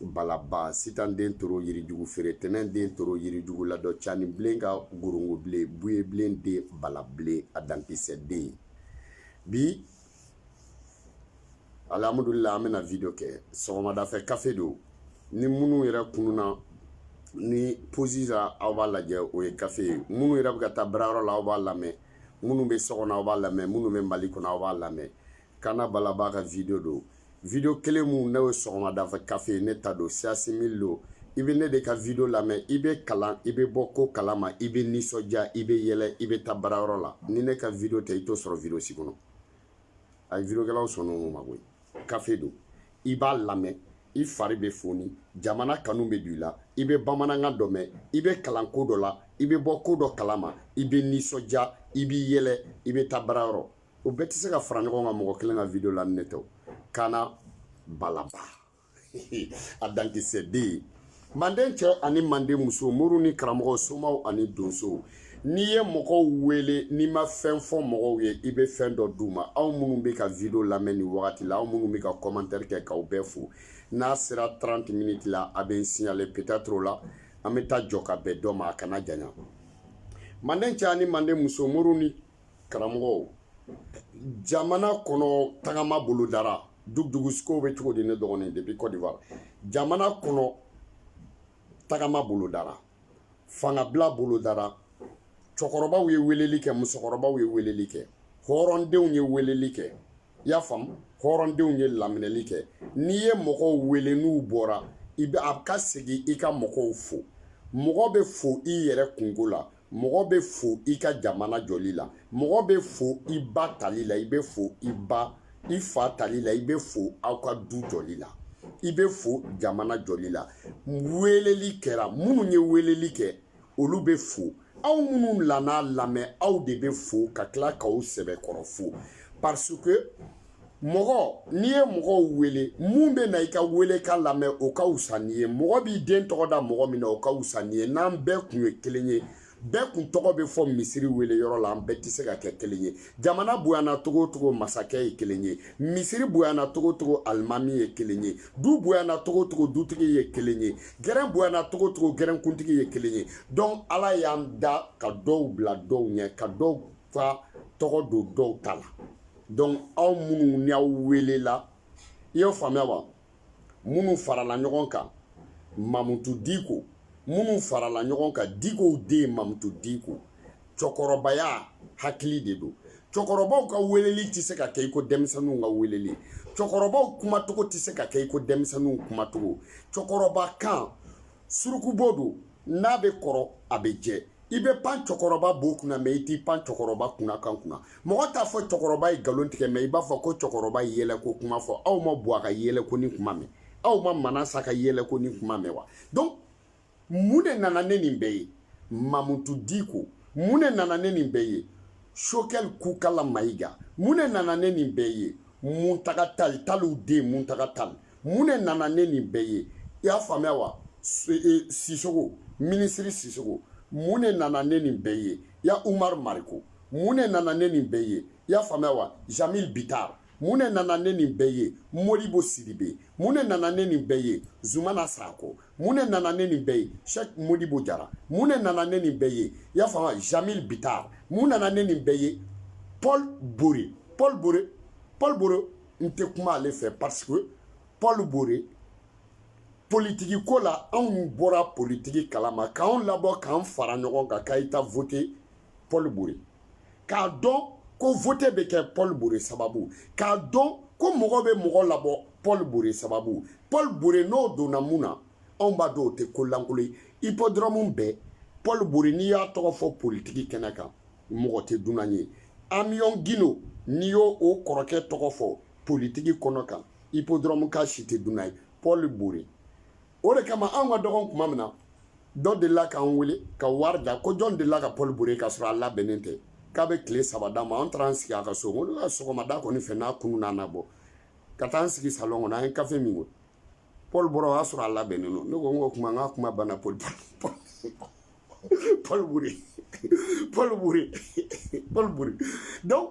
balaba sitan den toro yirijugu feere tɛnɛn den toro yirijugu ladɔ cani bilen ka gorongo bilen buye bilen den bala bilen a dankisɛ den bi alhamdulillah an bɛna video kɛ sɔgɔmada fɛ kafe don ni minnu yɛrɛ kununa ni posi la aw b'a lajɛ o ye kafe ye minnu yɛrɛ bɛ ka taa baarayɔrɔ la aw b'a lamɛn minnu bɛ so kɔnɔ aw b'a lamɛn minnu bɛ mali kɔnɔ aw b'a lamɛn kana balaba ka video don video kelen mun ne ye sɔgɔmada fɛ kafe ye ne ta don siasi mili don i bɛ ne de ka video lamɛn i bɛ kalan i bɛ bɔ ko kalama i bɛ nisɔndiya i bɛ yɛlɛ i bɛ taa baarayɔrɔ la ni ne ka video tɛ i t'o sɔrɔ video si kɔnɔ a ye videokɛlaw sɔn o ma koyi kafe don i b'a lamɛn i fari bɛ foni jamana kanu bɛ don i la i bɛ bamanankan dɔ mɛn i bɛ kalan ko dɔ la i bɛ bɔ ko dɔ kalama i bɛ nisɔndiya i bɛ yɛlɛ i bɛ taa baarayɔrɔ o bɛɛ tɛ se ka fara ɲɔgɔn kan mɔgɔ kelen ka video la ne tɛ kana balaba a dankisɛ den manden cɛ ani manden muso moriw ni karamɔgɔw somaw ani donsow n'i ye mɔgɔw wele n'i ma fɛn fɔ mɔgɔw ye i bɛ fɛn dɔ d'u ma aw minnu bɛ ka video lamɛn nin wagati la aw minnu bɛ ka commentaire kɛ k'aw bɛɛ fo n'a sera 30 minutes la a bɛ n signaler peut-être o la an bɛ taa jɔ ka bɛn dɔ ma a kana janya manden cɛ ani manden muso moriw ni karamɔgɔw jamana kɔnɔ tagama bolo dara dugusikow bɛ cogo di ne dɔgɔnin depuis Côte d'Ivoire jamana kɔnɔ tagama bolo dara fangabila bolo dara cɛkɔrɔbaw ye weleli kɛ musokɔrɔbaw ye weleli kɛ hɔrɔndenw ye weleli kɛ i y'a faamu hɔrɔndenw ye laminɛli kɛ n'i ye mɔgɔw wele n'u bɔra i bɛ a ka segin i ka mɔgɔw fo mɔgɔ bɛ fo i yɛrɛ kungo la mɔgɔ bɛ fo i ka jamana jɔli la mɔgɔ bɛ fo i ba tali la i bɛ fo i ba i fa tali la i bɛ fo aw ka du jɔli la i bɛ fo jamana jɔli la weleli kɛra minnu ye weleli kɛ olu bɛ fo aw minnu nana a lamɛn aw de bɛ fo ka tila k'aw sɛbɛkɔrɔ fo parce que mɔgɔ n'i ye mɔgɔw wele mun bɛ na i ka welekan lamɛn o ka wusa n'i ye mɔgɔ b'i den tɔgɔ da mɔgɔ min na o ka wusa n'i ye n'an bɛɛ kun ye kelen ye bɛɛ kun tɔgɔ bɛ fɔ misiri wele yɔrɔ la an bɛɛ tɛ se ka kɛ kelen ye jamana bonyana cogo o cogo masakɛ ye kelen ye misiri bonyana cogo o cogo alimami ye kelen ye du bonyana cogo o cogo dutigi ye kelen ye gɛrɛn bonyana cogo o cogo gɛrɛnkuntigi ye kelen ye donc ala y'an da ka dɔw bila dɔw ɲɛ ka dɔw ka tɔgɔ don dɔw ta la donc aw minnu ni aw welela i y'o faamuya wa minnu farala ɲɔgɔn kan mamutu diko minnu farala ɲɔgɔn kan dikow den mamutu diko cɛkɔrɔbaya hakili de don cɛkɔrɔbaw ka weleli tɛ se ka kɛ i ko denmisɛnninw ka weleli cɛkɔrɔbaw kumacogo tɛ se ka kɛ i ko denmisɛnninw kumacogo cɛkɔrɔba kan surukubo don n'a bɛ kɔrɔ a bɛ jɛ i bɛ pan cɛkɔrɔba bo kunna mɛ i t'i pan cɛkɔrɔba kumakan kunna mɔgɔ t'a fɔ cɛkɔrɔba ye nkalon tigɛ mɛ i b'a fɔ ko cɛkɔrɔba ye yɛlɛko kuma fɔ aw ma buwa ka yɛlɛko ni kuma mɛn aw ma manasa ka yɛlɛko ni kuma mɛn wa donc mun de nana ne nin bɛɛ ye mamutu diko mun de nana ne nin bɛɛ ye sogɛli kokala mayiga mun de nana ne nin bɛɛ ye muntaga tali taliw den muntaga tali mun de nana ne nin bɛɛ ye i y'a faamuya wa e, sisoko minisiri sisoko mun de nana ne nin bɛɛ ye ya umar mariko mun de nana ne nin bɛɛ ye i y'a faamuya wa jamil bitar mun de nana ne nin bɛɛ ye modibo sidibe mun de nana ne nin bɛɛ ye zumana sako mun de nana ne nin bɛɛ ye shek modibo jara mun de nana ne nin bɛɛ ye i y'a faamuya jamil bitar mun nana ne nin bɛɛ ye paul bore paul bore paul bore n tɛ kuma ale fɛ parce que paul bore politiki ko la anw bɔra politiki kalama k'anw labɔ k'an fara ɲɔgɔn kan ka taa vote paul bore k'a dɔn ko vote bɛ kɛ paul bore sababu k'a dɔn ko mɔgɔ bɛ mɔgɔ labɔ paul bore sababu paul bore n'o donna mun na anw b'a dɔn o tɛ ko lankolon ye hippodrome bɛɛ paul bore n'i y'a tɔgɔ fɔ politiki kɛnɛ kan mɔgɔ tɛ dunan ye amiyɔn gindo n'i y'o o kɔrɔkɛ tɔgɔ fɔ politiki kɛnɛ kan hippodrome kaw si tɛ dunan ye paul bore o de kama anw ka dɔgɔn tuma min na dɔ delila k'an wele ka wari da ko jɔn delila ka paul bore k'a sɔrɔ a labɛnnen tɛ k'a bɛ tile saba d'a ma an taara an sigi a ka so ko ne ka sɔgɔmada kɔni fɛ n'a kununna a na bɔ ka taa an sigi salɔn kɔnɔ an ye kafe min ko paul bore o y'a sɔrɔ a labɛnnen don ne ko n ko kuma n ka kuma banna paul paul bore paul bore paul bore donc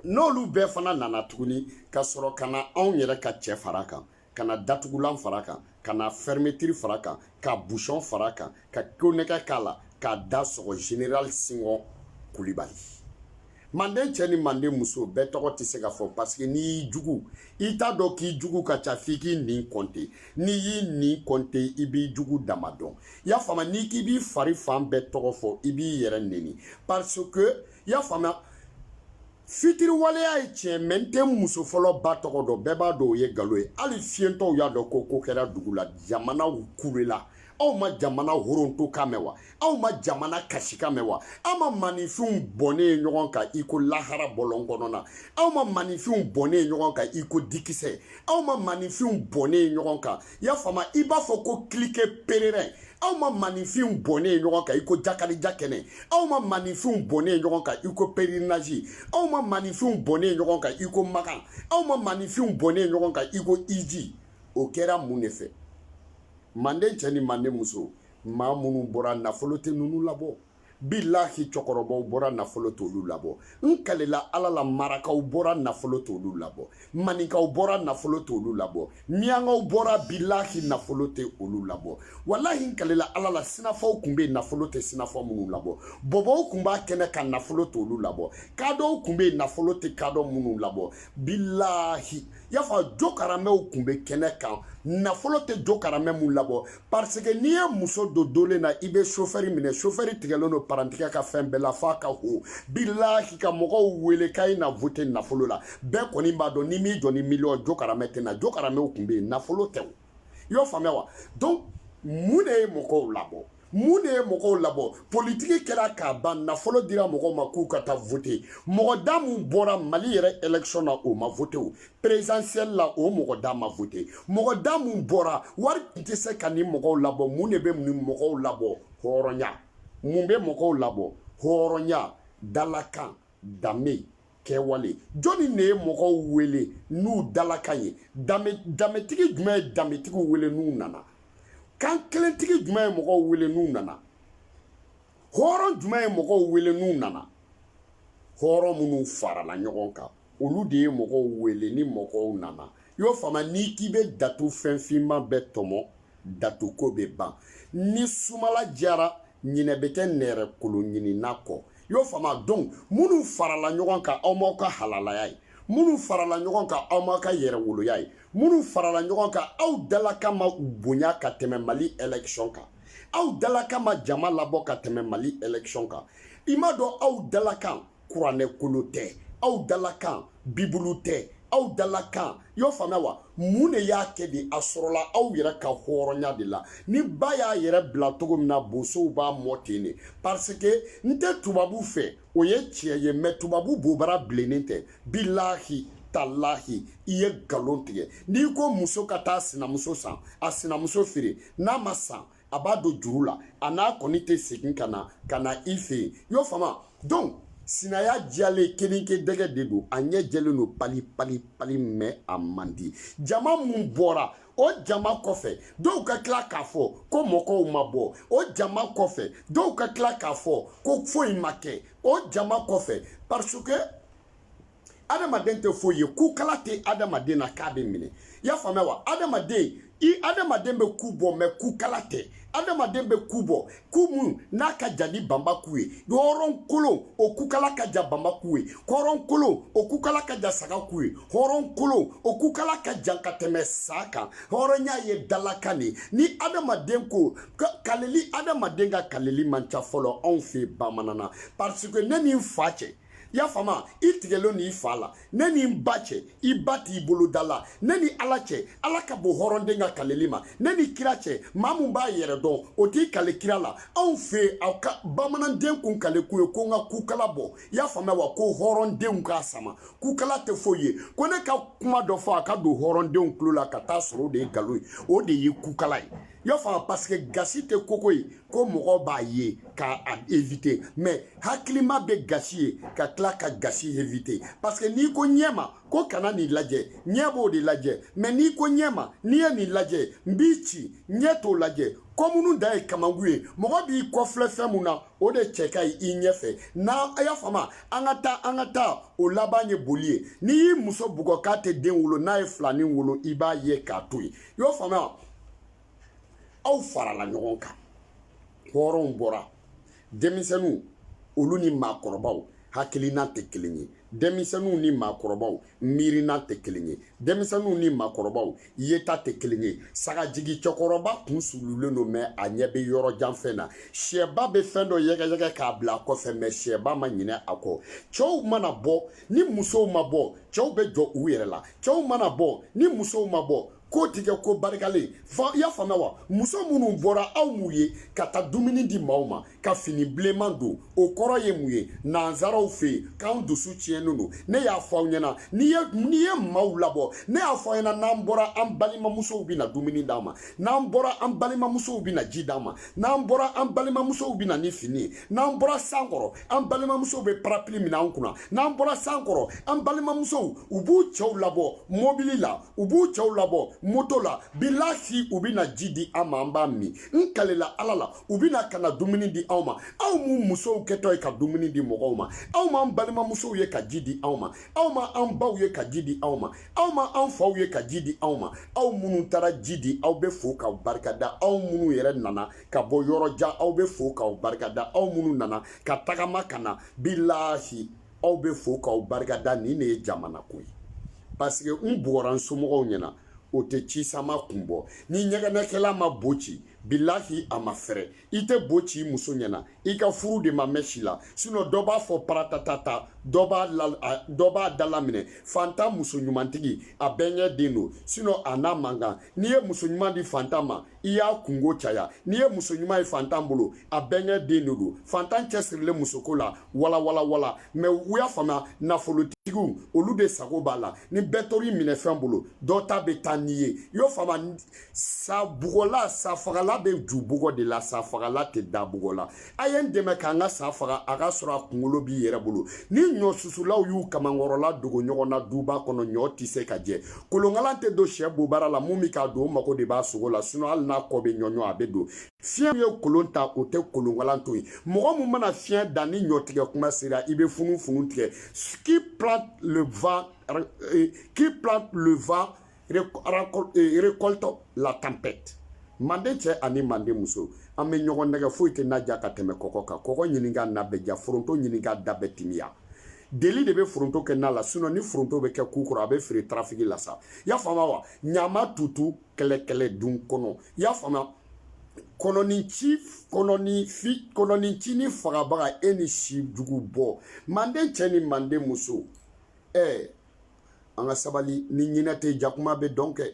n'olu bɛɛ fana nana tuguni ka sɔrɔ ka na anw yɛrɛ ka cɛ fara kan ka na datugulan fara kan ka na fermeture fara kan ka busɔn fara kan ka konnɛgɛ k'a la k'a da sɔgɔ general sinko kulibali manden cɛ ni manden muso bɛɛ tɔgɔ tɛ se ka fɔ parce que n'i y'i jugu i t'a dɔn k'i jugu ka ca f'i k'i ɲin kɔnte n'i y'i ɲin kɔnte i b'i jugu dama dɔn i y'a faamuya n'i k'i b'i fari fan bɛɛ tɔgɔ fɔ i b'i yɛrɛ neni parce que i y'a faamuya fitiriwaleya ye tiɲɛ mɛ n tɛ muso fɔlɔ ba tɔgɔ dɔn bɛɛ b'a dɔn o ye nkalon ye hali fiyentɔw y'a dɔn ko ko kɛra dugu la jamanaw kulela aw ma jamana horonto kan mɛn wa aw ma jamana kasi kan mɛn wa aw ma maninfinw bɔnnen ye ɲɔgɔn kan i ko lahara bɔlɔn kɔnɔna aw ma maninfinw bɔnnen ye ɲɔgɔn kan i ko dikisɛ aw ma maninfinw bɔnnen ye ɲɔgɔn kan i y'a faamu i b'a fɔ ko kilike pererɛn aw ma maninfinw bɔnnen ye ɲɔgɔn kan i ko jakalija kɛnɛ aw ma maninfinw bɔnnen ye ɲɔgɔn kan i ko pèlerinage aw ma maninfinw bɔnnen ye ɲɔgɔn kan i ko makan aw ma maninfinw bɔnnen ye ɲɔgɔn kan i ko hiji o kɛra mun de fɛ Manden cɛ ni manden muso maa minnu bɔra nafolo tɛ ninnu labɔ bilahi cɛkɔrɔbaw bɔra nafolo t'olu labɔ n kalela ala la marakaw bɔra nafolo t'olu labɔ maninkaw bɔra nafolo t'olu labɔ miyankaw bɔra bilahi nafolo tɛ olu labɔ walahi n kalela ala la sinafɔw kun bɛ nafolo tɛ sinafɔ minnu labɔ bɔbɔw kun b'a kɛnɛ kan nafolo t'olu labɔ kadɔw kun bɛ nafolo tɛ kadɔ minnu labɔ bilahi y'a fɔ jokaramɛw kun bɛ kɛnɛ kan nafolo tɛ jokaramɛ mun labɔ parce que n'i ye muso don dolen na i bɛ sofɛri minɛ sofɛri tigɛlen don parantigɛ ka fɛn bɛɛ la f'a ka ho bilahi ka mɔgɔw wele k'a ye na vote nafolo la bɛɛ kɔni b'a dɔn n'i m'i jɔ ni miliyɔn jokaramɛ tɛ na jokaramɛw kun bɛ yen nafolo tɛ o i y'o faamuya wa donc mun de ye mɔgɔw labɔ mun de ye mɔgɔw labɔ politiki kɛra k'a ban nafolo dira mɔgɔw ma k'u ka taa vote mɔgɔ da mun bɔra mali yɛrɛ élection na o ma vote o présidentielle la o mɔgɔ da ma vote mɔgɔ da mun bɔra wari tun tɛ se ka nin mɔgɔw labɔ mun de bɛ nin mɔgɔw labɔ hɔrɔnya mun bɛ mɔgɔw labɔ hɔrɔnya dalakan danbe kɛwale jɔnni de ye mɔgɔw wele n'u dalakan ye danbetigi jumɛn ye danbetigiw wele n'u nana kankelentigi jumɛn ye mɔgɔw wele n'u nana hɔrɔn jumɛn ye mɔgɔw wele n'u nana hɔrɔn minnu farala ɲɔgɔn kan olu de ye mɔgɔw wele ni mɔgɔw nana i y'o faamu n'i k'i bɛ datu fɛn finman bɛɛ tɔmɔ datuko bɛ ban ni sumala diyara ɲinɛ bɛ kɛ nɛrɛkolo ɲinina kɔ y'o faamu donc minnu farala ɲɔgɔn kan aw m'aw ka halalaya ye minnu farala ɲɔgɔn kan aw m'aw ka yɛrɛwoloya ye minnu farala ɲɔgɔn kan aw dalakan ma bonya ka tɛmɛ mali élection kan aw dalakan ma jama labɔ ka tɛmɛ mali élection kan i m'a dɔn aw dalakan kuranɛ kolo tɛ aw dalakan bibulu tɛ aw dalakan i y'o faamuya wa mun de y'a kɛ de a sɔrɔla aw yɛrɛ ka hɔrɔnya de la ni ba y'a yɛrɛ bila cogo min na bosow b'a mɔn ten de parce que n tɛ tubabu fɛ o ye tiɲɛ ye mais tubabu bobara bilennen tɛ bilahi talahi i ye nkalon tigɛ n'i ko muso ka taa sinamuso san a sinamuso feere n'a ma san a b'a don juru la a n'a kɔni tɛ segin ka na ka na i fɛ yen y'o faamu donc sinaya jalen keninke dɛgɛ de don a ɲɛ jɛlen don pali pali pali mɛ a man di jama min bɔra o jama kɔfɛ dɔw ka tila k'a fɔ ko mɔgɔw ma bɔ o jama kɔfɛ dɔw ka tila k'a fɔ ko foyi ma kɛ o jama kɔfɛ parce que adamaden tɛ foyi ye kukala tɛ adamaden na k'a bɛ minɛ i y'a faamuya wa adamaden i adamaden bɛ ku bɔ mɛ kukala tɛ adamaden bɛ ku bɔ ku min n'a ka jan ni banba ku ye hɔrɔn kolon o kukala ka jan banba ku ye hɔrɔn kolon o kukala ka jan saga ku ye hɔrɔn kolon o kukala ka jan ka tɛmɛ sa kan hɔrɔnya ye dalakan de ni adamaden ko kaleli adamaden ka kaleli man ca fɔlɔ anw fɛ bamanana parce que ne ni n fa cɛ i y'a faamuya i tigɛlen n'i fa la ne ni n ba cɛ i ba t'i bolo da la ne ni ala cɛ ala ka bon hɔrɔnden ka kaleli ma ne ni kira cɛ maa min b'a yɛrɛ dɔn o t'i kale kira la anw fɛ aw ka bamananden kun kale kun ye ko n ka kukala bɔ i y'a faamuya wa ko hɔrɔndenw k'a sama kukala tɛ foyi ye ko ne ka kuma dɔ fɔ a ka don hɔrɔndenw tulo la ka taa sɔrɔ o de ye nkalon ye o de ye kukala ye y'a faamu paseke gasi tɛ koko ye ko mɔgɔ b'a ye ka a evite mɛ hakilima bɛ gasi ye ka tila ka gasi evite paseke n'i ko ɲɛ ma ko kana nin lajɛ ɲɛ b'o de lajɛ mɛ n'i ko ɲɛ ma n'i ye nin lajɛ n b'i ci ɲɛ t'o lajɛ kɔmunu dan ye kamankun ye mɔgɔ b'i kɔfilɛ fɛn min na o de cɛ ka ɲi i ɲɛfɛ n'a a y'a faamu an ka taa an ka taa o laban ye boli ye n'i y'i muso bugɔ k'a tɛ den wolo n'a ye filanin wolo i b'a ye k'a to yen i y'o faamuya aw farala ɲɔgɔn kan hɔrɔnw bɔra denmisɛnninw olu ni maakɔrɔbaw hakilina tɛ kelen ye denmisɛnninw ni maakɔrɔbaw miirina tɛ kelen ye denmisɛnninw ni maakɔrɔbaw yeta tɛ kelen ye sagajigi cɛkɔrɔba kun sululen don mɛ a ɲɛ bɛ yɔrɔ jan fɛn na sɛba bɛ fɛn dɔ yɛgɛyɛgɛ k'a bila a kɔfɛ mɛ sɛba ma ɲinɛ a kɔ cɛw mana bɔ ni musow ma bɔ cɛw bɛ jɔ u yɛrɛ la cɛw mana bɔ ni musow ma bɔ ko ti kɛ ko barikalen fa i y'a faamuya wa muso minnu bɔra aw m'u ye ka taa dumuni di maaw ma ka fini bilenman don o kɔrɔ ye mun ye nansaraw fɛ yen k'an dusu tiɲɛnen don ne y'a fɔ aw ɲɛna n'i ye maaw labɔ ne y'a fɔ aw ɲɛna n'an bɔra an balimamusow bɛ na dumuni d'an ma n'an bɔra an balimamusow bɛ na ji d'an ma n'an bɔra an balimamusow bɛ na ni fini ye n'an bɔra san kɔrɔ an balimamusow bɛ parapili minɛ an kunna n'an bɔra san kɔrɔ an balimamusow u b'u cɛw labɔ mɔbili la u b'u cɛw labɔ moto la bilahi u bɛna ji di an ma an b'a min n kalela ala la u bɛna ka na dumuni di anw ma aw m'u musow kɛtɔ ye ka dumuni di mɔgɔw ma aw m'an balimamusow ye ka ji di anw ma aw ma an baw ye ka ji di anw ma aw ma an faw ye ka ji di anw ma aw minnu taara ji di aw bɛ fo k'aw barikada aw minnu yɛrɛ nana ka bɔ yɔrɔ jan aw bɛ fo k'aw barikada aw minnu nana ka tagama ka na bilahi aw bɛ fo k'aw barikada nin de ye jamana ko ye paseke n bugɔra n somɔgɔw ɲɛna o tɛ ci sama kun bɔ ni ɲɛgɛnɛkɛla ma bo ci bilahi a ma fɛrɛ i tɛ bo ci i muso ɲɛna i ka furu de ma mɛn si la sinɔ dɔ b'a fɔ paratatata dɔ b'a la dɔ b'a dala minɛ fantan muso ɲumantigi a bɛnkɛ den don sinɔ a n'a man kan n'i ye muso ɲuman di fantan ma i y'a kunko caya n'i ye muso ɲuman ye fantan bolo a bɛnkɛ den de don fantan cɛsirilen musoko la walawalawala mɛ u y'a faamuya nafolotigiw olu de sago b'a la ni bɛɛ tor'i minɛfɛn bolo dɔ ta bɛ taa n'i ye i y'o faamuya sa bugɔla sa fagala bɛ ju bugɔ de la sa fagala tɛ da bugɔ la a ye n dɛmɛ k'an ka sa faga a ka sɔrɔ a kunkolo b'i yɛrɛ bolo ni ɲɔ susulaw y'u kamankɔrɔla dogo ɲɔgɔn na duba kɔnɔ ɲɔ tɛ se ka jɛ kolonkalan tɛ don sɛ bobara la min bɛ k'a don o mago de b'a sogo la sinɔ hali n'a kɔ bɛ ɲɔɲɔ a bɛ don fiɲɛ min ye kolon ta o tɛ kolonkalan to yen mɔgɔ min mana fiɲɛ dan ni ɲɔtigɛ kuma sera i bɛ funufunu tigɛ qui plante le vent récolte la tempête manden cɛ ani manden muso an bɛ ɲɔgɔn nɛgɛn foyi tɛ na ja ka tɛmɛ kɔkɔ kan kɔkɔ ɲini ka na bɛɛ ja foronto ɲini ka da bɛɛ timiya deli de bɛ foronto kɛ na la sinɔn ni foronto bɛ kɛ ku kɔrɔ a bɛ feere tarafiki la sa i y'a faamuya wa ɲamatutu kɛlɛkɛlɛ dun kɔnɔ i y'a faamuya kɔnɔninci kɔnɔninfi kɔnɔninci ni fagabaga e ni si jugu bɔ manden cɛ ni manden muso ɛɛ an ka sabali ni ɲinɛ tɛ jakuma bɛ dɔn kɛ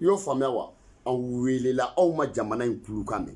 i y'o faamuya wa aw welela aw ma jamana in kulukan mɛn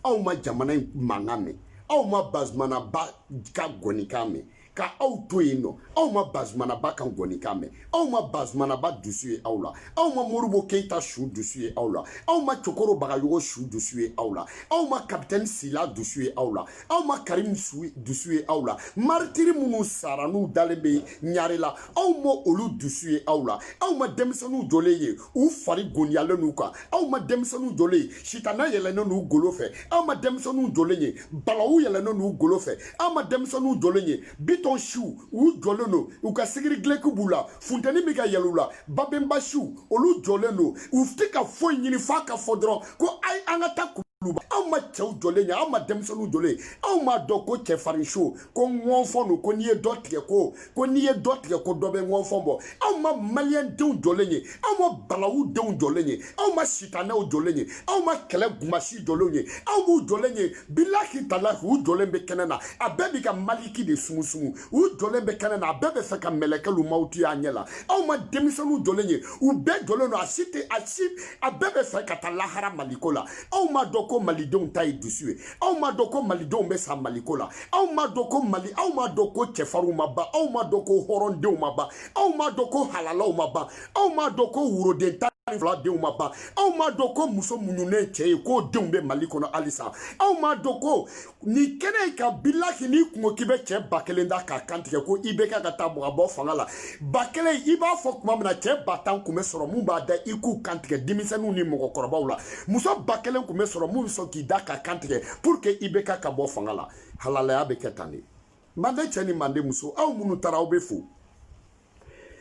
aw ma jamana in mankan mɛn aw ma bazumanaba ka gɔnikan mɛn ka aw to yen nɔ aw ma bazumanaba ka gɔnikan mɛn aw ma bazumanaba dusu ye aw la aw ma moribo keyita su dusu ye aw la aw ma cokoro bagayogo su dusu ye aw la aw ma kapitɛni sila dusu ye aw la aw ma karimu dusu ye aw la maritiri minnu sara n'u dalen bɛ ɲarela aw ma olu dusu ye aw la aw ma denmisɛnninw jɔlen ye u fari goniyalen n'u kan aw ma denmisɛnninw jɔlen ye sitana yɛlɛnnen n'u golo fɛ aw ma denmisɛnninw jɔlen ye balawu yɛlɛnnen n'u golo fɛ aw ma denmisɛnninw jɔlen ye bitɔn siw u jɔlen don u ka sigiri gileki b'u la funteni bɛ ka yɛlɛn u la babenba siw olu jɔlen don u tɛ ka foyi ɲini f'a ka fɔ dɔrɔn ko ayi an ka taa kuluba aw ma cɛw jɔlen ye aw ma denmisɛnninw jɔlen ye aw m'a dɔn ko cɛfarin so ko ŋɔnfɔn don ko n'i ye dɔ tigɛ ko ko n'i ye dɔ tigɛ ko dɔ bɛ ŋɔnfɔn bɔ aw ma maliyɛn denw jɔlen ye aw ma balawu denw jɔlen ye aw ma sitanɛw jɔlen ye aw ma kɛlɛ gumasi jɔlenw ye aw m'u jɔlen ye bilahi talahi u jɔlen bɛ kɛnɛ na a bɛɛ bɛ ka maliki de sumusumu u jɔlen bɛ kɛnɛ na a bɛɛ bɛ fɛ ka mɛlɛkɛlu mawutu y'a ɲɛ la aw ma denmisɛnninw jɔlen ye u bɛɛ jɔlen don a si tɛ a si a bɛɛ bɛ fɛ ka taa lahara maliko la aw m'a dɔn ko malidenw ta ye dusu ye aw m'a dɔn ko malidenw bɛ sa maliko la aw m'a dɔn ko aw m'a dɔn ko cɛfarinw ma ban aw m'a dɔn ko hɔrɔndenw ma ban aw m'a dɔn ko halalaw ma ban aw m'a dɔn ko woroden tan ni fila denw ma ban aw m'a dɔn ko muso muɲunen cɛ ye k'o denw bɛ mali kɔnɔ halisa aw m'a dɔn ko nin kɛnɛ in kan bilahi n'i kun ko k'i bɛ cɛ ba kelen da k'a kantigɛ ko i bɛ kɛ ka taa bɔ ka bɔ fanga la ba kelen i b'a fɔ tuma min na cɛ ba tan kun bɛ sɔrɔ mun b'a da i k'u kantigɛ denmisɛnninw ni mɔgɔkɔrɔbaw la muso ba kelen kun bɛ sɔrɔ mun bɛ sɔn k'i da k'a kantigɛ pour que i bɛ ka ka bɔ fanga la halalaya bɛ kɛ tan de manden cɛ ni manden muso aw minnu taara aw bɛ fo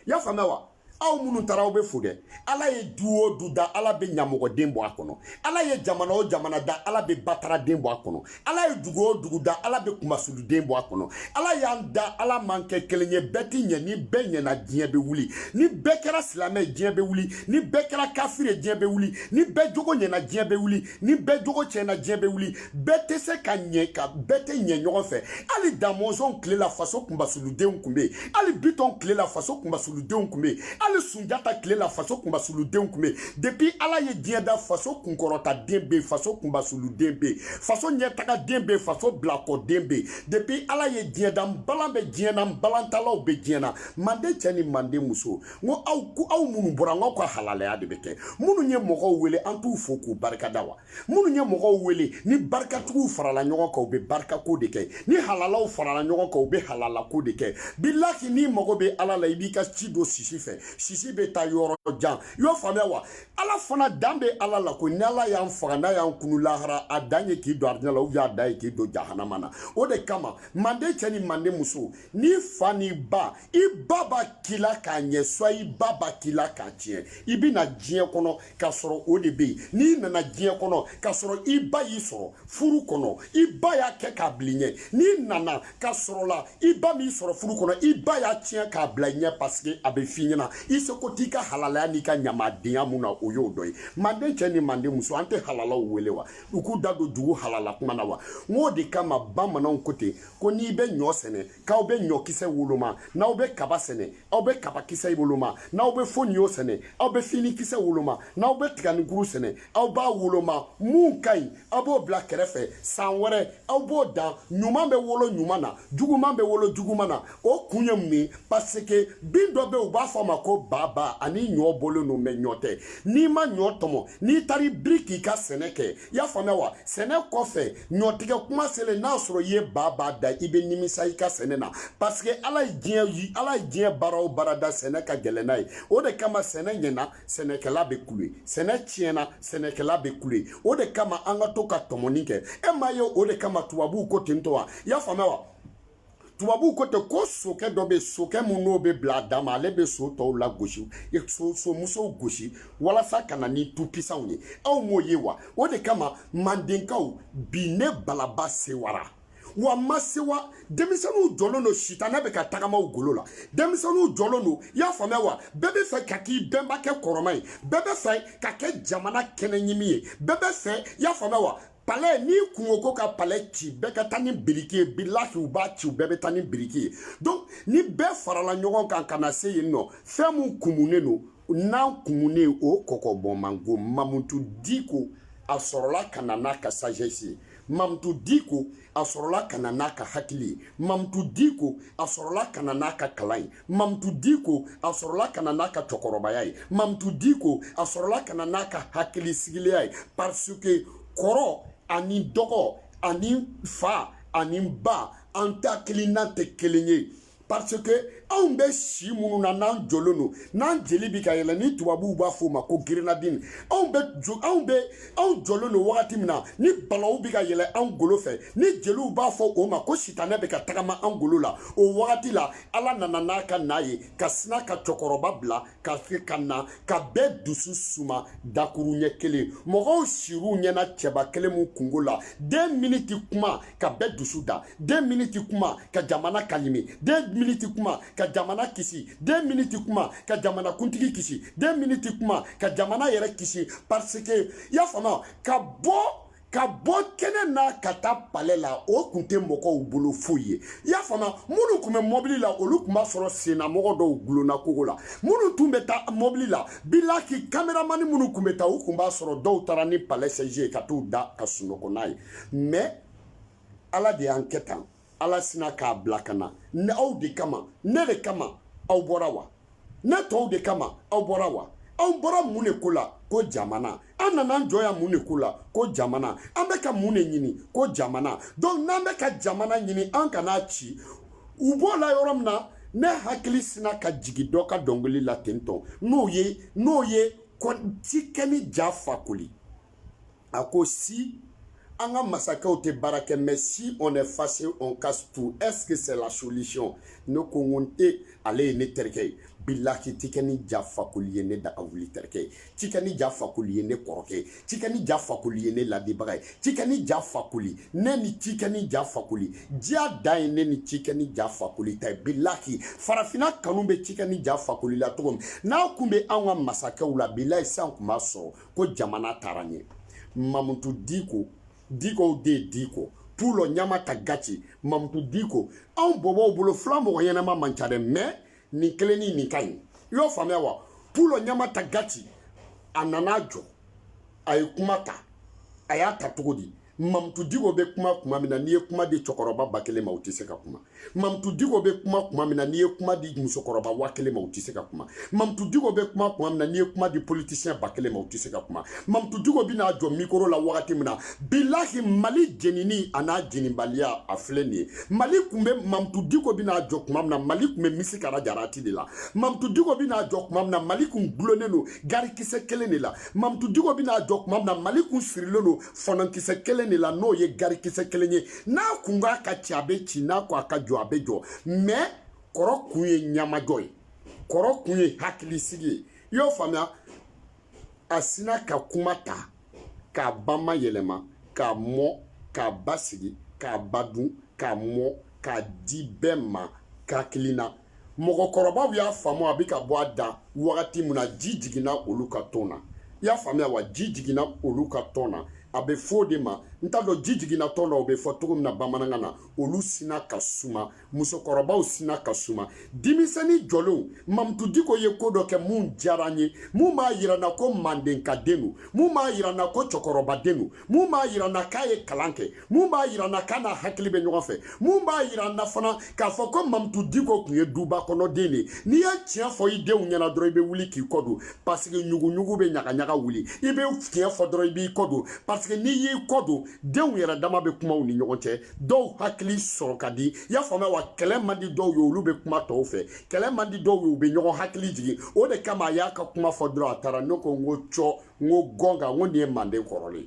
y'a faamuya wa aw minnu taara aw bɛ fo dɛ ala ye du o du da ala bɛ ɲamɔgɔden bɔ a kɔnɔ ala ye jamana o jamana da ala bɛ bataraden bɔ a kɔnɔ ala ye dugu o dugu da ala bɛ kunmasuluden bɔ a kɔnɔ ala y'an da ala m'an kɛ kelen ye bɛɛ tɛ ɲɛ ni bɛɛ ɲɛna diɲɛ bɛ wuli ni bɛɛ kɛra silamɛ diɲɛ bɛ wuli ni bɛɛ kɛra kafiri ye diɲɛ bɛ wuli ni bɛɛ jogo ɲɛna diɲɛ bɛ wuli ni bɛɛ jogo tiɲɛna diɲɛ bɛ wuli bɛɛ tɛ se ka ɲɛ ka bɛɛ tɛ ɲɛ ɲɔgɔn fɛ hali damɔnzɔn tile la faso kunbasuludenw kun bɛ yen hali bitɔn tile la faso kunbasuludenw kun bɛ yen hali sunjata tile la faso kunbasuludenw kun bɛ yen depuis ala ye diɲɛ da faso kunkɔrɔtaden bɛ yen faso kunbasuluden bɛ yen faso ɲɛtagaden bɛ yen faso bilakɔden bɛ yen depuis ala ye diɲɛ da nbalan bɛ diɲɛ na nbalantalaw bɛ diɲɛ na manden cɛ ni manden muso n ko aw ko aw minnu bɔra n k'aw ka halalaya de bɛ kɛ minnu ye mɔgɔw wele an t'u fo k'u barikada wa minnu ye mɔgɔw wele ni barikatigiw farala ɲɔgɔn kan u bɛ barikako de kɛ ni halalaw farala ɲɔgɔn kan u bɛ halalako de kɛ bilahi n'i mago bɛ ala la i b'i ka ci don sisi fɛ sisi bɛ taa yɔrɔ jan i y'o faamuya wa ala fana dan bɛ ala la ko ni ala y'an faga n'a y'an kunu lahara a dan ye k'i don arijinɛ la ou a dan ye k'i don jahanama na o de kama manden cɛ ni manden muso n'i fa n'i ba i ba b'a k'i la k'a ɲɛ soit i ba b'a k'i la k'a tiɲɛ i bɛ na diɲɛ kɔnɔ k'a sɔrɔ o de bɛ yen n'i nana diɲɛ kɔnɔ k'a sɔrɔ i ba y'i sɔrɔ furu kɔnɔ i ba y'a kɛ k'a bila i ɲɛ n'i nana k'a sɔrɔ la i ba m'i sɔrɔ furu kɔnɔ i ba y'a tiɲɛ k'a bila i ɲɛ parce que a bɛ f'i ɲɛ na i seko t'i ka halalaya n'i ka ɲamadenya mun na o y'o dɔ ye manden cɛ ni manden muso an tɛ halalaw wele wa u k'u da don dugu halala kuma na wa n k'o de kama bamananw ko ten ko n'i bɛ ɲɔ sɛnɛ k'aw bɛ ɲɔkisɛ woloma n'aw bɛ kaba sɛnɛ aw bɛ kabakisɛ woloma n'aw bɛ foniyo sɛnɛ aw bɛ finikisɛ woloma n'aw bɛ tiganikuru sɛnɛ aw b'a woloma mun ka ɲi aw b'o bila kɛrɛfɛ san wɛrɛ aw b'o dan ɲuman bɛ wolo ɲuman na juguman bɛ wolo juguman na o kun ye mun ye parce que bin dɔ bɛ yen u b'a fɔ a ma ko baba ani ɲɔ bɔlen don mɛ ɲɔ tɛ n'i ma ɲɔ tɔmɔ n'i taara i biri k'i ka sɛnɛ kɛ i y'a faamuya wa sɛnɛ kɔfɛ ɲɔtigɛ kuma selen n'a sɔrɔ i ye baba dan i bɛ nimisa i ka sɛnɛ na parce que ala ye diɲɛ baara o baara da sɛnɛ ka gɛlɛn n'a ye o de kama sɛnɛ ɲɛna sɛnɛkɛla bɛ kule sɛnɛ tiɲɛna sɛnɛkɛla bɛ kule o de kama an ka to ka tɔmɔni kɛ e m'a ye o de kama tubabuw ko ten tɔ wa i y'a faamuya wa tubabuw ko ten ko sokɛ dɔ bɛ yen sokɛ mun n'o bɛ bila a dan ma ale bɛ so tɔw lagosi somusow gosi walasa ka na ni tupisanw ye aw m'o ye wa o de kama mandenkaw bi ne balaba sewara wa n ma sewa denmisɛnninw jɔlen don sitanɛ bɛ ka tagama u golo la denmisɛnninw jɔlen don i y'a faamuya wa bɛɛ bɛ fɛ ka k'i bɛnbakɛ kɔrɔma ye bɛɛ bɛ fɛ ka kɛ jamana kɛnɛɲimi ye bɛɛ bɛ fɛ i y'a faamuya wa palɛ n'i kun ko ko ka palɛ ci bɛɛ ka taa ni biriki ye bilahi u b'a ci u bɛɛ bɛ taa ni biriki ye donc ni bɛɛ farala ɲɔgɔn kan ka na se yen nɔ fɛn min kumunen don n'an kumunen o kɔkɔbɔnmanko mamutu diko a sɔrɔla ka na n'a ka sagesse ye mamutu diko a sɔrɔla ka na n'a ka hakili ye mamutu diko a sɔrɔla ka na n'a ka kalan ye mamutu diko a sɔrɔla ka na n'a ka cɛkɔrɔbaya ye mamutu diko a sɔrɔla ka na n'a ka hakili sigiliya ye parce que kɔrɔ ani dɔgɔ ani fa ani ba an ta hakilina tɛ kelen ye parce que anw bɛ si minnu na n'an jɔlen don n'an jeli bɛ ka yɛlɛ ni tubabuw b'a fɔ o ma ko grenadine anw jɔlen don wagati min na ni balaw bɛ ka yɛlɛ anw golo fɛ ni jeliw b'a fɔ o ma ko sitanɛ bɛ ka tagama anw golo la o wagati la ala nana n'a ka n'a ye ka sina ka cɛkɔrɔba bila ka na ka bɛɛ dusu suma dakuruɲɛ kelen mɔgɔw siri u ɲɛna cɛba kelen mu kungo la deux minutes kuma ka bɛɛ dusu da deux minutes kuma ka jamana kalimi deux minutes kuma ka jamana kisi deux minutes kuma ka jamana kuntigi kisi deux minutes kuma ka jamana yɛrɛ kisi parce que y'a faamuya ka bɔ ka bɔ kɛnɛ na ka taa palɛ la o kun tɛ mɔgɔw bolo foyi ye i y'a faamuya minnu kun bɛ mɔbili la olu kun b'a sɔrɔ sennamɔgɔ dɔw gulonna kogo la minnu tun bɛ taa mɔbili la bilahi kameramani minnu kun bɛ taa u kun b'a sɔrɔ dɔw taara ni palɛ sɛji ye ka t'u da ka sunɔgɔ n'a ye mɛ ala de y'an kɛ tan ala sina k'a bila ka na ne aw de kama ne de kama aw bɔra wa ne tɔw de kama aw bɔra wa anw bɔra mun de ko la ko jamana an nana an jɔ yan mun de ko la ko jamana an bɛ ka mun de ɲini ko jamana donc n'an bɛ ka jamana ɲini an kan'a ci u b'o la yɔrɔ min na ne hakili sina ka jigin dɔ ka dɔnkili la ten tɔn n'o ye n'o ye tikɛni ja fakoli a ko si an ka masakɛw tɛ baara kɛ mais si on est fâché on casse tout est-ce que c'est la solution ne ko n ko n tɛ ale ye ne terikɛ ye bilahi tikɛni ja fakoli ye ne daga wuli terikɛ ye tikɛni ja fakoli ye ne kɔrɔkɛ ye tikɛni ja fakoli ye ne ladibaga ye tikɛni ja fakoli ne ni tikɛni ja fakoli diya dan ye ne ni tikɛni ja fakoli ta ye bilahi farafina kanu bɛ tikɛni ja fakoli la cogo min n'a kun bɛ anw ka masakɛw la bilahi sisan kun b'a sɔrɔ ko jamana taara ɲɛ mamutu diko dikow de ye diko pulo ɲama ta gaci mamutu diko anw bɔbɔw bolo fula mɔgɔ ɲɛnama man ca dɛ mais nin kelen ni nin ka ɲi i y'o faamuya wa pulo ɲama ta gaci a nana jɔ a ye kuma ta a y'a ta cogo di mamutu diko bɛ kuma kuma min na n'i ye kuma di cɛkɔrɔba ba kelen ma u tɛ se ka kuma mamutu diko bɛ kuma kuma min na n'i ye kuma di musokɔrɔba wa kelen ma u tɛ se ka kuma mamutu diko bɛ kuma kuma min na n'i ye kuma di politisiyɛn ba kelen ma u tɛ se ka kuma mamutu diko bɛ n'a jɔ mikoro la wagati min na bilahi mali jenini a n'a jenibaliya a filɛ nin ye mali tun bɛ mamutu diko bɛ n'a jɔ kuma min na mali tun bɛ misi kara jarati de la mamutu diko bɛ n'a jɔ kuma min na mali tun gulonnen don garikisɛ kelen de la mamutu diko bɛ n'a jɔ kuma min na mali tun sirilen don fɔnɔkisɛ kelen de la n'o ye garikisɛ kelen ye n'a kun k'a ka ci a bɛ ci n'a ko a ka jɔ a bɛ jɔ mais kɔrɔ kun ye ɲamajɔ ye kɔrɔ kun ye hakilisigi ye i y'o faamuya a sina ka kuma ta k'a bamayɛlɛma k'a mɔ k'a basigi k'a ba dun k'a mɔ k'a di bɛɛ ma hakili na mɔgɔkɔrɔbaw y'a faamu a bɛ ka bɔ a da wagati min na ji jiginna olu ka tɔn na i y'a faamuya wa ji jiginna olu ka tɔn na a bɛ fɔ o de ma n t'a dɔn ji jiginna tɔn na o bɛ fɔ cogo min na bamanankan na olu sina ka suma musokɔrɔbaw sina ka suma denmisɛnnin jɔlenw mamutu diko ye ko dɔ kɛ mun diyara n ye mun b'a yira n na ko mandenkaden don mun b'a yira n na ko cɛkɔrɔbaden don mun b'a yira n na k'a ye kalan kɛ mun b'a yira n na k'a n'a hakili bɛ ɲɔgɔn fɛ mun b'a yira n na fana k'a fɔ ko mamutu diko tun ye duba kɔnɔ den de n'i ye tiɲɛ fɔ i denw ɲɛna dɔrɔn i bɛ wuli k'i kɔ don parce que ɲuguɲugu bɛ ɲagaɲaga wuli i bɛ tiɲɛ fɔ dɔrɔn i b'i kɔ don parce que n'i y'i kɔ don denw yɛrɛ dama bɛ kuma u ni ɲɔgɔn cɛ dɔw hakili sɔrɔ ka di i y'a faamuya wa kɛlɛ man di dɔw ye olu bɛ kuma tɔw fɛ kɛlɛ man di dɔw ye u bɛ ɲɔgɔn hakili jigin o de kama a y'a ka kuma fɔ dɔrɔn a taara ne ko n ko cɔ n ko gɔn kan n ko nin ye manden kɔrɔlen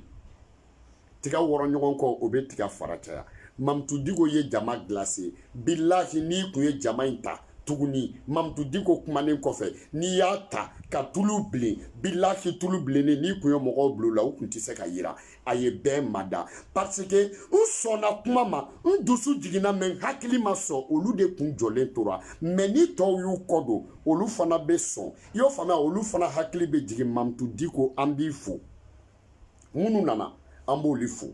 tiga wɔrɔ ɲɔgɔn kɔ o bɛ tiga fara caya mamutu diko ye jama glacé bilahi n'i kun ye jama in ta tuguni mamutu diko kumanen kɔfɛ n'i y'a ta ka tulu bilen bilahi tulu bilennen n'i kun ye mɔgɔw bila la u kun tɛ se ka yira a ye bɛɛ mada parce que n sɔnna kuma ma n dusu jiginna mais n hakili ma sɔn olu de kun jɔlen tora mais ni tɔw y'u kɔ don olu fana bɛ sɔn i y'o faamuya olu fana hakili bɛ jigin mamutu diko an b'i fo minnu nana an b'olu fo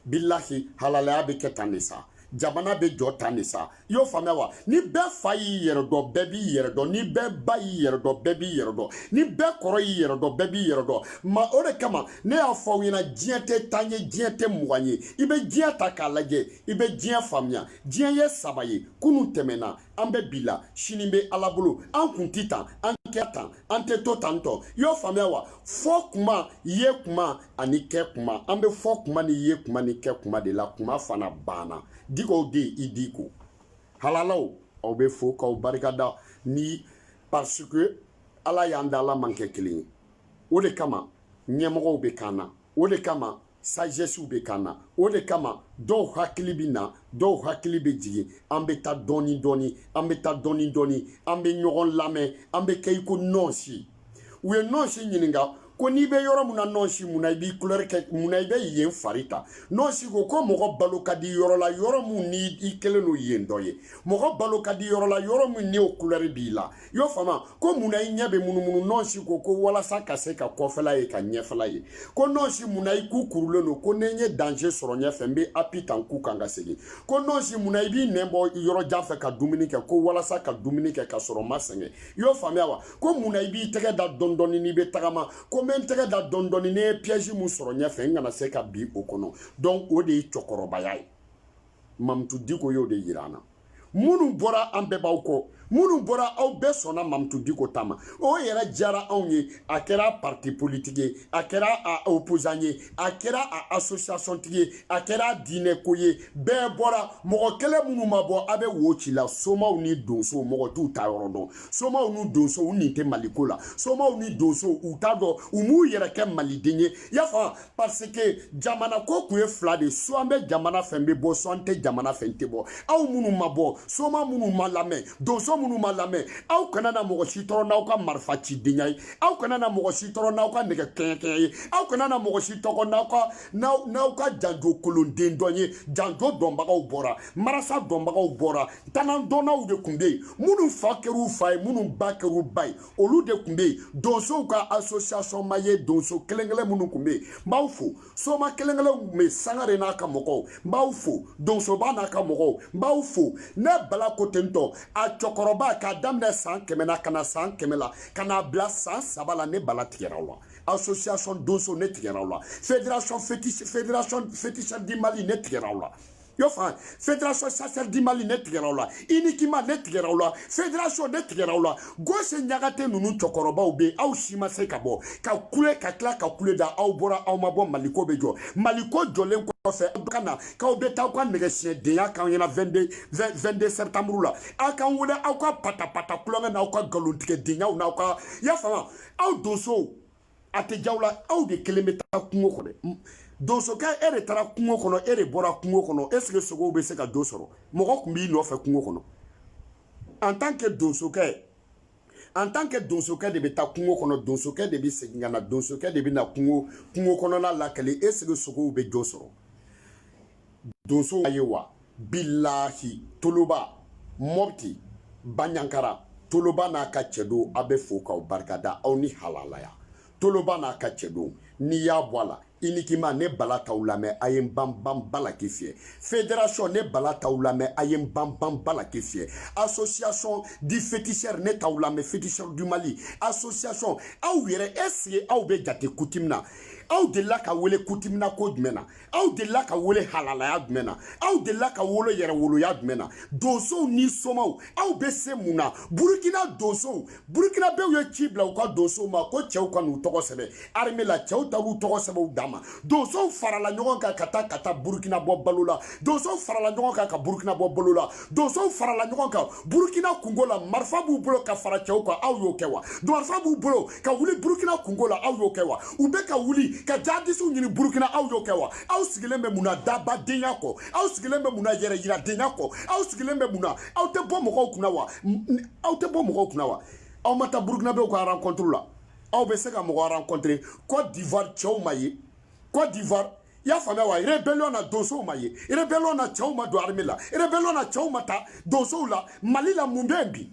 bilahi halalaya bɛ kɛ tan de sa jamana bɛ jɔ tan de sa i y'o faamuya wa ni bɛɛ fa y'i yɛrɛ dɔn bɛɛ b'i yɛrɛ dɔn ni bɛɛ ba y'i yɛrɛ dɔn bɛɛ b'i yɛrɛ dɔn ni bɛɛ kɔrɔ y'i yɛrɛ dɔn bɛɛ b'i yɛrɛ dɔn ma o de kama ne y'a fɔ aw ɲɛna diɲɛ tɛ tan ye diɲɛ tɛ mugan ye i bɛ diɲɛ ta k'a lajɛ i bɛ diɲɛ faamuya diɲɛ ye saba ye kunun tɛmɛna an bɛ bi la sini bɛ ala bolo an kun ti tan an kɛ tan an tɛ to tan tɔ i y'o faamuya wa fɔ kuma ye kuma ani kɛ kuma an bɛ fɔ kuma ni ye kuma ni kɛ kuma de la kuma fana banna diko de i diko halalaw aw bɛ fo k'aw barikada ni parce que ala y'an da ala m'an kɛ kelen ye o de kama ɲɛmɔgɔw bɛ kan na o de kama sagesse bɛ kan na o de kama dɔw hakili bɛ na dɔw hakili bɛ jigin an bɛ taa dɔɔni dɔɔni an bɛ taa dɔɔni dɔɔni an bɛ ɲɔgɔn lamɛn an bɛ kɛ i ko nɔɔsi u ye nɔɔsi ɲininka ko n'i bɛ yɔrɔ min na nɔɔsi mun na i b'i couleur kɛ mun na i bɛ yen fari ta nɔɔsi ko ko mɔgɔ balo ka di yɔrɔ la yɔrɔ min ni i kɛlen don yen dɔ ye mɔgɔ balo ka di yɔrɔ la yɔrɔ min n'o couleur b'i la i y'o faamu ko mun na i ɲɛ bɛ munumunu nɔɔsi ko ko walasa ka se ka kɔfɛla ye ka ɲɛfɛla ye ko nɔɔsi mun na i ku kurulen don ko ni n ye danger sɔrɔ ɲɛfɛ n bɛ appui ta n ku kan ka segin ko nɔɔsi mun na i b'i nɛn bɔ yɔrɔ jan fɛ ka dumuni kɛ ko walasa ka dumuni kɛ ka sɔrɔ n ma sɛgɛn i y'o faamuya wa ko mun na i b'i tɛgɛ da dɔɔni dɔɔni n'i bɛ tagama ko n bɛ n tɛgɛ da dɔɔni dɔɔni ne ye piège mun sɔrɔ ɲɛfɛ n kana se ka bin o kɔnɔ donc o de ye cɛkɔrɔbaya ye mamutu diko y'o de yira an na minnu bɔra an bɛɛ b'aw kɔ minnu bɔra aw bɛɛ sɔnna mamutu diko ta ma o yɛrɛ diyara anw ye a kɛra parti politique ye a kɛra a opposant ye a kɛra a association tigi ye a kɛra diinɛko ye bɛɛ bɔra mɔgɔ kelen minnu ma bɔ a bɛ wo ci la somaw ni donsow mɔgɔ t'u taa yɔrɔ dɔn somaw ni donsow u nin tɛ maliko la somaw ni donsow u t'a dɔn u m'u yɛrɛ kɛ maliden ye y'a faamu parce que jamana ko kun ye fila de soit n bɛ jamana fɛ n bɛ bɔ soit n tɛ jamana fɛ n tɛ bɔ aw minnu ma bɔ soma minnu ma lamɛn donso minnu ma lamɛn aw kana na mɔgɔ si tɔɔrɔ n'aw ka marifa cidenya ye aw kana na mɔgɔ si tɔɔrɔ n'aw ka nɛgɛ kɛɲɛkɛɲɛ ye aw kana na mɔgɔ si tɔɔrɔ n'aw ka n'aw ka janjo kolonden dɔn ye janjo dɔnbagaw bɔra marasa dɔnbagaw bɔra tanandɔnnaw de tun bɛ yen minnu fa kɛr'u fa ye minnu ba kɛr'u ba ye olu de tun bɛ yen donsow ka association ma ye donso kelen kelen minnu tun bɛ yen n b'aw fo soma kelen kelen minnu tun bɛ yen sangare n'a ka mɔgɔw n b'aw fo donsoba n'a ka mɔgɔw n b'aw fo ne bala ko ten tɔ a cɛkɔrɔba k'a daminɛ san kɛmɛ na ka na san kɛmɛ la ka n'a bila san saba la ne bala tigɛra aw la association donso ne tigɛra aw la fédération féticheur du mali ne tigɛra aw la yɔrɔ fa fédération chasseur du mali ne tigɛra aw la inikima ne tigɛra aw la fédération ne tigɛra aw la gosi ɲakate ninnu cɛkɔrɔbaw be aw si ma se ka bɔ ka kule ka tila ka kule da aw bɔra aw ma bɔ maliko be jɔ maliko jɔlen kɔfɛ aw ka na k'aw be taa aw ka nɛgɛsiɲɛdenya k'an ɲɛna 22 septembre la aw k'an wele aw ka patapata kulonkɛ n'aw ka galontigɛdenyaw n'aw ka y'a faamu aw donsow a tɛ jaw la aw de kelen bɛ taa kungo kɔnɔ donsokɛ e de taara kungo kɔnɔ e de bɔra kungo kɔnɔ est ce que sogow bɛ se ka jo sɔrɔ mɔgɔ tun b'i nɔfɛ kungo kɔnɔ en tant que donsokɛ en tant que donsokɛ de bɛ taa kungo kɔnɔ donsokɛ de bɛ segin ka na donsokɛ de bɛ na kungo kɔnɔna lakali est ce que sogow bɛ jo sɔrɔ donso ye wa bilahi toloba mɔpti banjagara toloba n'a ka cɛdenw a bɛɛ fo k'aw barikada aw ni halalaya toloba n'a ka cɛdenw n'i y'a bɔ a la inikima ne bala t'aw lamɛn a ye n banban balaki fiyɛ fédération ne bala t'aw lamɛn a ye n banban balaki fiyɛ association du féticheur ne t'aw lamɛn féticheur du mali association aw yɛrɛ est ce que aw bɛ jate coutume na aw delila ka wele coutume na ko jumɛn na aw delila ka wele halalaya jumɛn na aw delila ka wolo yɛrɛwoloya jumɛn na donsow ni somaw aw bɛ se mun na burukina donsow burukinabew ye ci bila u ka donsow ma ko cɛw ka n'u tɔgɔ sɛbɛn armée la cɛw ta k'u tɔgɔ sɛbɛn u dan ma donsow farala ɲɔgɔn kan ka taa burukina bɔ bolo la donsow farala ɲɔgɔn kan ka burukina bɔ bolo la donsow farala ɲɔgɔn kan burukina kunko la marifa b'u bolo ka fara cɛw kan aw y'o kɛ wa marifa b'u bolo ka wuli burukina kunko la aw y'o kɛ wa u bɛ ka wuli ka jadisiw ɲini burukina aw y'o kɛ wa aw sigilen bɛ mun na dabadenya kɔ aw sigilen bɛ mun na yɛrɛyiradenya kɔ aw sigilen bɛ mun na aw tɛ bɔ mɔgɔw kunna wa aw tɛ bɔ mɔgɔw kunna wa aw ma taa burukinabew ka rencontre la aw bɛ se ka mɔgɔ rencontrer cote d'ivoire cɛw ma ye cote d'ivoire i y'a faamuya wa rebellion na donsow ma ye rebellion na cɛw ma don armée la rebellion na cɛw ma taa donsow la mali la mun bɛ yen bi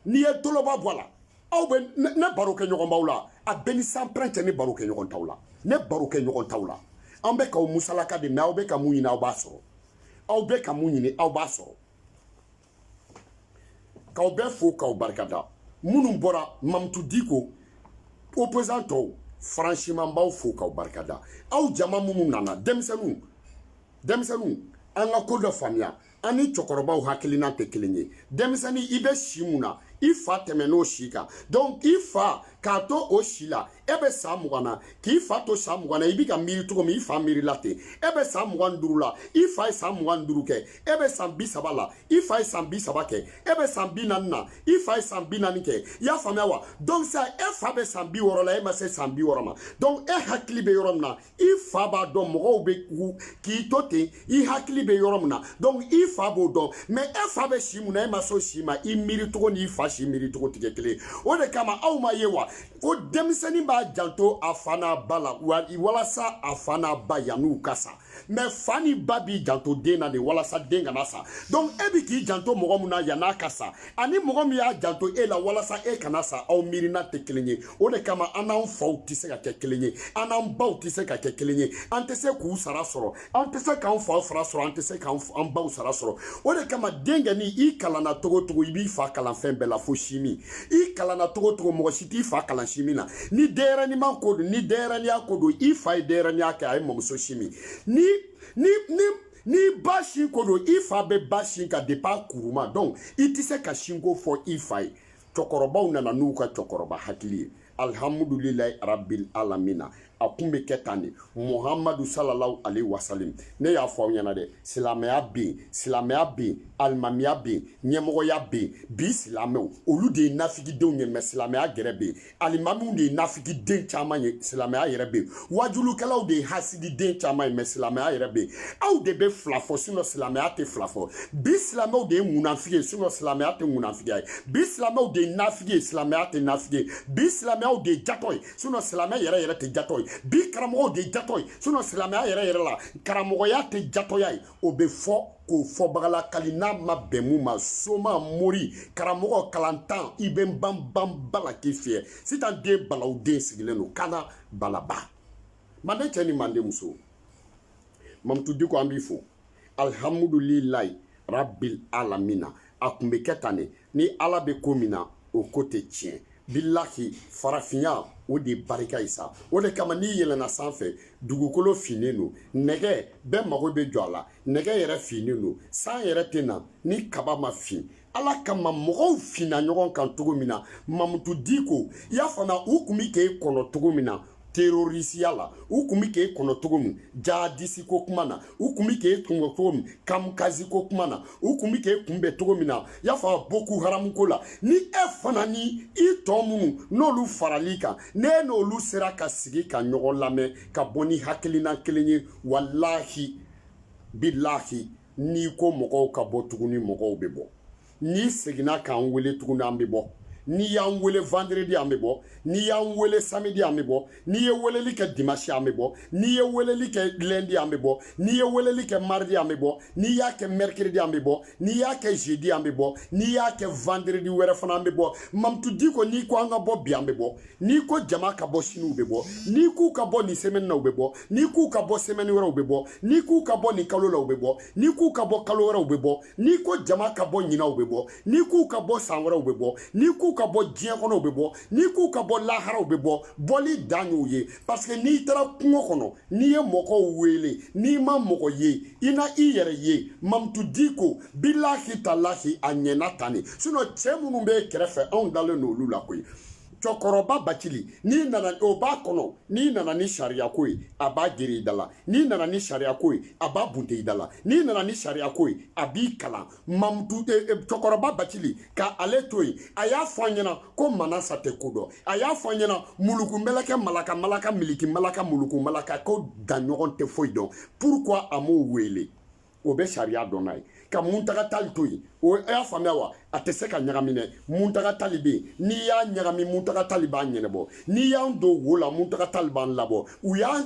n'i ye toloba bɔ a la aw bɛ ne baro kɛ ɲɔgɔn baw la a bɛɛ ni sanpɛrɛn cɛ ne baro kɛ ɲɔgɔn taw la ne baro kɛ ɲɔgɔn taw la an bɛ k'aw musalaka de mɛ aw bɛ ka mun ɲini aw b'a sɔrɔ aw bɛ ka mun ɲini aw b'a sɔrɔ k'aw bɛɛ fo k'aw barikada minnu bɔra mamutu diko opposant tɔw franchement n b'aw fo k'aw barikada aw jama minnu nana denmisɛnninw denmisɛnninw an ka ko dɔ faamuya an ni cɛkɔrɔbaw hakilina tɛ kelen ye denmisɛnnin i bɛ si mun na i fa tɛmɛn'o si kan donc i fa k'a to o si la e bɛ san mugan na k'i fa to san mugan na i bɛ ka miiri cogo min i fa miirila ten e bɛ san mugan ni duuru la i fa ye san mugan ni duuru kɛ e bɛ san bi saba la i fa ye san bi saba kɛ e bɛ san bi naani na i fa ye san bi naani kɛ i y'a faamuya wa donc sa e fa bɛ san bi wɔɔrɔ la e ma se san bi wɔɔrɔ ma donc e hakili bɛ yɔrɔ min na i fa b'a dɔn mɔgɔw bɛ k'i to ten i hakili bɛ yɔrɔ min na donc i fa b'o dɔn mais e fa bɛ si mun na e ma s'o si ma i miiri cogo n'i fa si miiri cogo tɛ kɛ kelen o de kama aw m'a ye wa ko denmisɛnnin b'a janto a fa n'a ba la walasa a fa n'a ba yan'u ka sa mais fa ni ba b'i janto den na de walasa den kana sa donc e bɛ k'i janto mɔgɔ min na yan'a ka sa ani mɔgɔ min y'a janto e la walasa e kana sa aw miirina tɛ kelen ye o de kama an n'an faw tɛ se ka kɛ kelen ye an n'an baw tɛ se ka kɛ kelen ye an tɛ se k'u sara sɔrɔ an tɛ se k'an faw sara sɔrɔ an tɛ se k'an baw sara sɔrɔ o de kama den kɔni i kalanna cogo cogo i b'i fa kalan fɛn bɛɛ la fo sinmin i kalanna cogo cogo mɔgɔ si t'i fa kalan sinmin na ni denyɛrɛniman ko don ni denyɛrɛniya ko don i fa ye denyɛrɛniya kɛ a y'i mɔmuso sin min ni ni ni n'i ba sin ko don i fa b'i ba sin kan depuis a kuruma donc i tɛ se ka sinko fɔ i fa ye cɛkɔrɔbaw nana n'u ka cɛkɔrɔba hakili ye alihamudulilayi rabil alamina a kun bɛ kɛ tan de muhamadu salalahu aleyi wasalim ne y'a fɔ aw ɲɛna dɛ silamɛya bɛ yen silamɛya bɛ yen alimamiya bɛ yen ɲɛmɔgɔya bɛ yen bi silamɛw olu de ye nafigidenw ye mais silamɛya yɛrɛ bɛ yen alimamiw de ye nafigiden caman ye silamɛya yɛrɛ bɛ yen wajulukɛlaw de ye hasididen caman ye mais silamɛya yɛrɛ bɛ yen aw de bɛ fila fɔ sinon silamɛya tɛ fila fɔ bi silamɛw de ye munafigi ye sinon silamɛya tɛ munafigiya ye bi silamɛw de ye nafigi ye silamɛya tɛ nafigi ye bi silamɛw de ye jatɔ ye sinon silamɛya yɛrɛ yɛrɛ tɛ jatɔ ye bi karamɔgɔw de ye jatɔ ye sinon silamɛya yɛrɛ yɛrɛ la karamɔgɔya tɛ jatɔya ye o bɛ fɔ k'o fɔbaga lakali n'a ma bɛn min ma soma mori karamɔgɔ kalantan i bɛ n ban ban bala k'i fiyɛ sitan den balaw den sigilen don kana balaba manden cɛ ni manden muso mamutu diko an b'i fo alihamudulilayi rabil alamina a kun bɛ kɛ tan de ni ala bɛ ko min na o ko tɛ tiɲɛ bilahi farafinya o de barika ye sa o de kama n'i yɛlɛnna sanfɛ dugukolo finnen don nɛgɛ bɛɛ mago bɛ jɔ a la nɛgɛ yɛrɛ finnen don san yɛrɛ tɛ na ni kaba ma fin ala kama mɔgɔw finna ɲɔgɔn kan cogo min na mamutu diko i y'a faamuya u kun bi k'e kɔnɔ cogo min na terorisiya la u kun bi k'e kɔnɔ cogo min jihadisi ko kuma na u kun bi k'e kunbɛ cogo min kamikazi ko kuma na u kun bi k'e kunbɛ cogo min na y'a fɔ boko haramu ko la ni e fana ni i tɔ minnu n'olu farali kan ne n'olu sera ka sigi ka ɲɔgɔn lamɛn ka bɔ ni hakilina kelen ye walahi bilahi n'i ko mɔgɔw ka bɔ tuguni mɔgɔw bɛ bɔ n'i seginna k'an wele tuguni an bɛ bɔ n'i y'an wele vendredi an bɛ bɔ n'i y'an wele samedi an bɛ bɔ n'i ye weleli kɛ dimanche an bɛ bɔ n'i ye weleli kɛ lundi an bɛ bɔ n'i ye weleli kɛ mardi an bɛ bɔ n'i y'a kɛ mercredi an bɛ bɔ n'i y'a kɛ jeudi an bɛ bɔ n'i y'a kɛ vendredi wɛrɛ fana an bɛ bɔ mamutu diko n'i ko an ka bɔ bi an bɛ bɔ n'i ko jama ka bɔ sini u bɛ bɔ n'i k'u ka bɔ nin sɛmɛni na u bɛ bɔ n'i k'u ka bɔ sɛmɛni wɛrɛ u bɛ bɔ n'i k'u ka bɔ nin kalo la u bɛ bɔ n'i k'u ka bɔ kalo wɛrɛ u bɛ bɔ n'i ko jama ka bɔ ɲina u bɛ bɔ n'i k'u ka bɔ san wɛrɛ u bɛ bɔ n'i k'u ka bɔ diɲɛ kɔnɔ u bɛ bɔ n'i k'u ka bɔ lahara u bɛ bɔ bɔli dan y'u ye parce que n'i taara kungo kɔnɔ n'i ye mɔgɔw wele n'i ma mɔgɔ ye i na i yɛrɛ ye mamutu diko bilahi talahi a ɲɛna tan de sinon cɛ minnu b'i kɛrɛfɛ anw dalen don olu la koyi cɛkɔrɔba bacili n'i nana o b'a kɔnɔ n'i nana ni sariyako ye a b'a gere i da la n'i nana ni sariyako ye a b'a bunte i da la n'i nana ni sariyako ye a b'i kalan mamutu e, e, cɛkɔrɔba bacili k'ale to yen a y'a fɔ an ɲɛna ko manasa tɛ ko dɔn a y'a fɔ an ɲɛna muluku mɛlɛkɛ malaka malaka miliki malaka muluku malaka ko daɲɔgɔ tɛ foyi dɔn pourquoi a m'o wele o bɛ sariya dɔn n'a ye ka muntaga tali to yen i y'a faamuya wa a tɛ se ka ɲagami dɛ muntaga tali bɛ yen n'i y'a ɲagami muntaga tali b'a ɲɛnabɔ n'i y'an don wo la muntaga tali b'an labɔ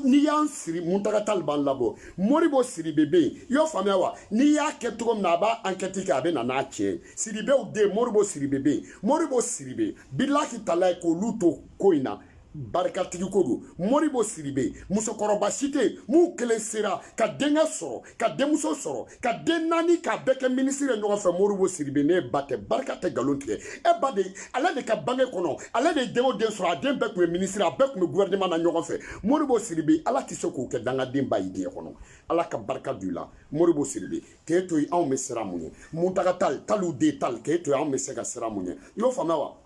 n'i y'an siri muntaga tali b'an labɔ modibo sidibe bɛ yen i y'o faamuya wa n'i y'a kɛ cogo min na a b'a ankɛti kɛ a bɛ na n'a tiɲɛ sidibew den modibo sidibe bɛ yen modibo sidibe bilahi talahi k'olu to ko in na barikatigi ko don modibo sidibe musokɔrɔba si tɛ yen mun kelen sera ka denkɛ sɔrɔ ka denmuso sɔrɔ ka den naani k'a bɛɛ kɛ minisiri ye ɲɔgɔn fɛ modibo sidibe ne ba tɛ barika tɛ nkalon tigɛ e ba de ale de ka bange kɔnɔ ale de ye den o den sɔrɔ a den bɛɛ tun ye minisiri a bɛɛ tun bɛ gouvernement na ɲɔgɔn fɛ modibo sidibe ala tɛ se k'o kɛ dangaden ba ye diɲɛ kɔnɔ ala ka barika don i la modibo sidibe k'e to yen anw bɛ siran mun ɲɛ muntaga tali taliw den tali k'e to yen anw bɛ se ka siran mun ɲɛ i y'o faamuya wa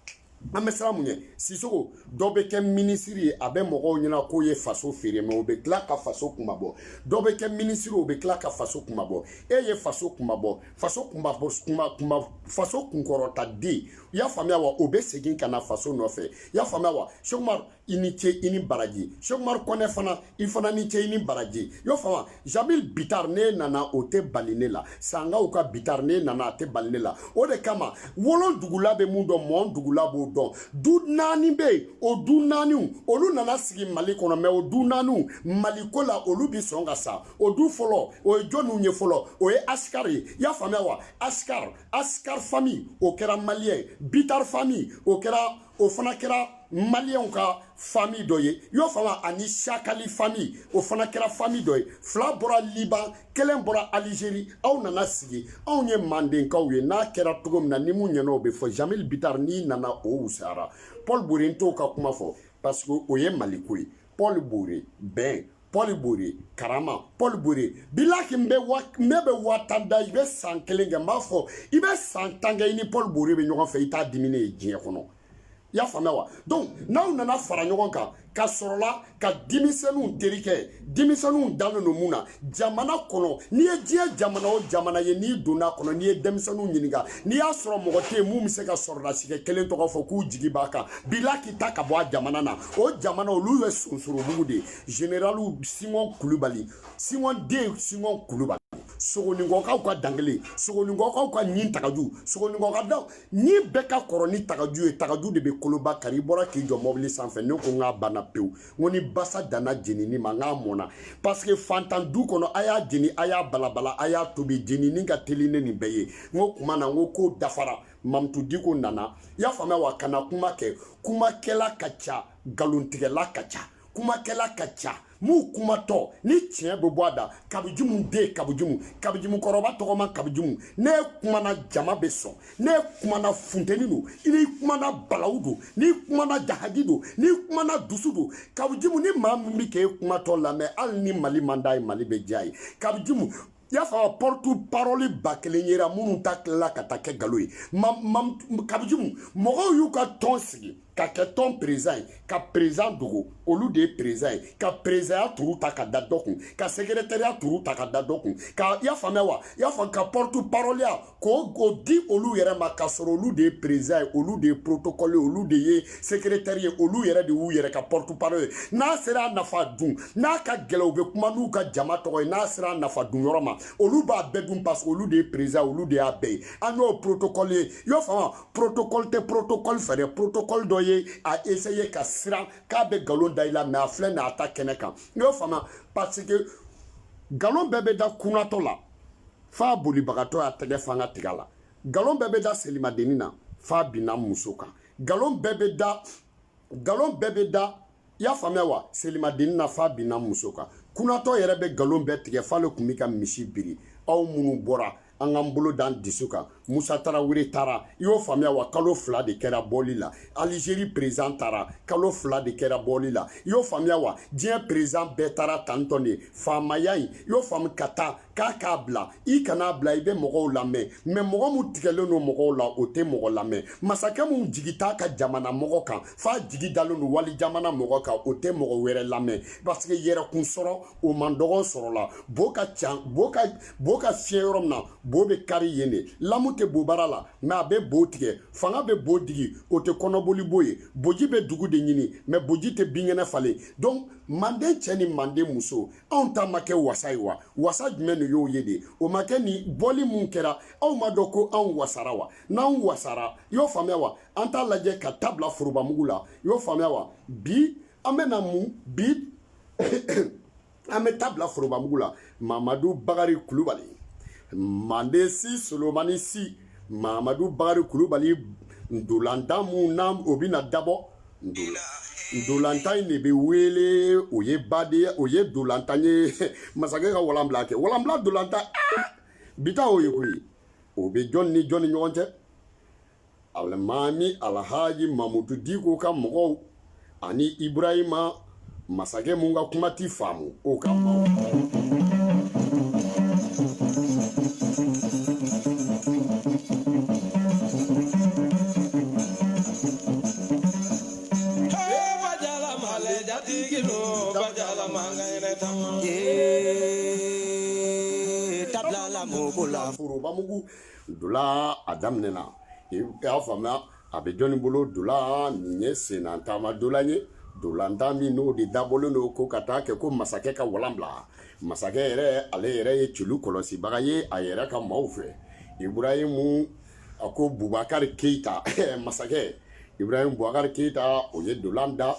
an bɛ siran mun ɲɛ sisoko dɔ bɛ kɛ minisiri ye a bɛ mɔgɔw ɲɛna k'o ye faso feere mais o bɛ tila ka faso kunmabɔ dɔ bɛ kɛ minisiri o bɛ tila ka faso kunmabɔ e ye faso kunmabɔ faso kunmabɔ kunma kunma faso kunkɔrɔta den i y'a faamuya wa o bɛ segin ka na faso nɔfɛ i y'a faamuya wa sɛki umaru i ni ce i ni baraji sekumari kɔnɛ fana i fana ni ce i ni baraji i y'o faamu jamil bitar n'e nana o tɛ bali ne la sankaw ka bitar n'e nana a tɛ bali ne la o de kama wolondugula bɛ mun dɔn mɔndugula b'o dɔn du naani bɛ yen o du naaniw olu nana sigi mali kɔnɔ mɛ o du naaniw maliko la olu bi sɔn ka sa o du fɔlɔ o ye jɔniw ye fɔlɔ o ye asikar ye i y'a faamuya wa asikar asikar fami o kɛra maliyɛn bitar fami o kɛra o fana kɛra maliyɛnw ka fami dɔ ye y'o faamu ani sakali fami o fana kɛra fami dɔ ye fila bɔra liban kelen bɔra alizeri aw nana sigi anw ye mandenkaw ye n'a kɛra cogo min na ni mun ɲɛna o bɛ fɔ jamil bitar n'i nana o wusara paul bore n t'o ka kuma fɔ parce que o ye maliko ye paul bore bɛn pɔli bore karama pɔli bore bilahi n bɛ wa n bɛ bɛ wa tan da i bɛ san kelen kɛ n b'a fɔ i bɛ san tan kɛ i ni pɔli bore bɛ ɲɔgɔn fɛ i t'a diminen ye diɲɛ kɔnɔ i y'a faamuya wa donc n'aw nana fara ɲɔgɔn kan ka sɔrɔla ka denmisɛnninw teri kɛ denmisɛnninw dalen don mun na jamana kɔnɔ n'i ye diɲɛ jamana o jamana ye n'i donna a kɔnɔ n'i ye denmisɛnninw ɲininka n'i y'a sɔrɔ mɔgɔ tɛ yen mun bɛ se ka sɔrɔdasikɛ kelen tɔgɔ fɔ k'u jigi b'a kan bilahi taa ka bɔ a jamana na o jamana olu ye sonsorobugu de ye generali singon kulubali singon den singon kulubali sogoninkɔkaw ka dankelen sogoninkɔkaw ka ɲin tagaju sogoninkɔka daɲin bɛɛ ka kɔrɔ ni tagaju ye tagaju de bɛ koloba kari i bɔra k'i jɔ mɔbili sanfɛ ne ko n k'a banna pewu n ko ni basa danna jenini ma n k'a mɔna paseke fantan du kɔnɔ a y'a jeni a y'a balabala a y'a tobi jenini ka teli ni nin bɛɛ ye n ko kuma na n ko k'o dafara mamutu diko nana i y'a faamuya wa kana kuma kɛ kumakɛla ka ca nkalontigɛla ka ca kumakɛla ka ca mun kumatɔ ni tiɲɛ bɛ bɔ a da kawu jimu den kawu jimu kawu jimu kɔrɔba tɔgɔma kawu jimu n'e kumana jama bɛ sɔn n'e kumana funteni don n'i kumana balawu don n'i kumana jahadi don n'i kumana dusu don kawu jimu ni maa min bɛ k'e kumatɔ lamɛn hali ni mali man d'a ye mali bɛ diy'a ye kawu jimu i y'a fɔ pɔrɔtu parɔli ba kelen yera minnu ta tilala ka taa kɛ nkalon ye kawu jimu mɔgɔw y'u ka tɔn sigi ka kɛ tɔn perezidan ye ka perezidan dogo olu de ye perezidan ye ka perezidanya turu ta ka da dɔ kun ka sekeretɛriya turu ta ka da dɔ kun ka i y'a faamuya wa i y'a fɔ ka pɔrɔtu parɔliya k'o k'o di olu yɛrɛ ma k'a sɔrɔ olu de ye perezidan ye olu de ye protokɔli olu de ye sekeretɛri ye olu yɛrɛ de y'u yɛrɛ ka pɔrɔtu parɔli ye n'a sera a nafa dun n'a ka gɛlɛn u bɛ kuma n'u ka jama tɔgɔ ye n'a sera a nafa dun yɔrɔ ma olu b'a bɛɛ dun parce que olu de ye perezidan olu de y'a bɛɛ ye an y'o protokɔli ye y'o faamu protokɔli tɛ protokɔli fɛ dɛ protokɔli dɔ ye a essaye ka siran k'a bɛ nkalon da i la mɛ a filɛ n'a ta kɛnɛ kan y'o faamu parce que nkalon bɛɛ bɛ da kunatɔ la f'a bolibagatɔ y'a tɛgɛ fa n ka tiga la galon bɛɛ bɛ da selimadenni na f'a binna muso kan galon bɛɛ bɛ da galon bɛɛ bɛ da i y'a faamuya wa selimadenni na f'a binna muso kan kunatɔ yɛrɛ bɛ galon bɛɛ tigɛ f'ale tun bɛ ka misi biri aw minnu bɔra an k'an bolo d'an dusu kan Musa Tarawele taara i y'o faamuya wa kalo fila de kɛra bɔli la Algérie président taara kalo fila de kɛra bɔli la i y'o faamuya wa diɲɛ président bɛɛ taara tan tɔn de faamaya in i y'o faamu ka taa k'a k'a bila i kana bila i bɛ mɔgɔw lamɛn mais mɔgɔ min tigɛlen don mɔgɔw la o tɛ mɔgɔ lamɛn masakɛ min jigi t'a ka jamana mɔgɔ kan f'a jigi dalen don wali jamana mɔgɔ kan o tɛ mɔgɔ wɛrɛ lamɛn parce que yɛrɛkun sɔrɔ o man dɔgɔ sɔrɔ la bo ka ca bo ka bo ka fiɲɛ yɔrɔ min na bo bɛ kari yen de lamu tɛ bobara la mais a bɛ bo tigɛ fanga bɛ bo digi o tɛ kɔnɔboli bo ye boji bɛ dugu de ɲigin mais boji tɛ binkɛnɛ falen donc manden cɛ ni manden muso anw ta ma kɛ wasa ye wa wasa jumɛn de y'o ye de o ma kɛ ni bɔli mun kɛra aw ma dɔn ko anw wasara wa n'anw wasara y'o faamuya wa an t'a lajɛ ka t'a bila forobamugu la y'o faamuya wa bi an bɛ na mun bi an bɛ t'a bila forobamugu la mamadu bakari kulubali manden si solomani si mamadu bakari kulubali ndolantan mun na o bɛna dabɔ ndolantan in de bɛ wele o ye baden o ye ndolantan ye masakɛ ka walanbila kɛ walanbila ndolantan aa ah! bi ta o ye koyi o bɛ jɔn ni jɔn ni ɲɔgɔn cɛ alimami alhaji mamudu diko ka mɔgɔw ani ibrahima masakɛ mun ka kuma ti faamu o ka maaw t'a bila mugu la forobamugu dola a daminɛna i y'a faamuya a bɛ jɔnni bolo dola nin ye senna taama dola ye dolantan min n'o de dabɔlen don ko ka taa kɛ ko masakɛ ka walan bila masakɛ yɛrɛ ale yɛrɛ ye celu kɔlɔsibaga ye a yɛrɛ ka maaw fɛ iburahimu a ko bubakari keyita masakɛ iburahimu bubakari keyita o ye dolan da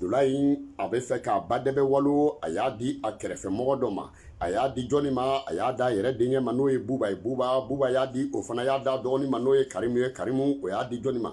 Dola in a bɛ fɛ k'a ba dɛbɛ walo a y'a di a kɛrɛfɛmɔgɔ dɔ ma a y'a di jɔnni ma a y'a d'a yɛrɛ denkɛ ma n'o ye buba ye buba buba y'a di o fana y'a d'a dɔgɔnin ma n'o ye karimu ye karimu o y'a di jɔnni ma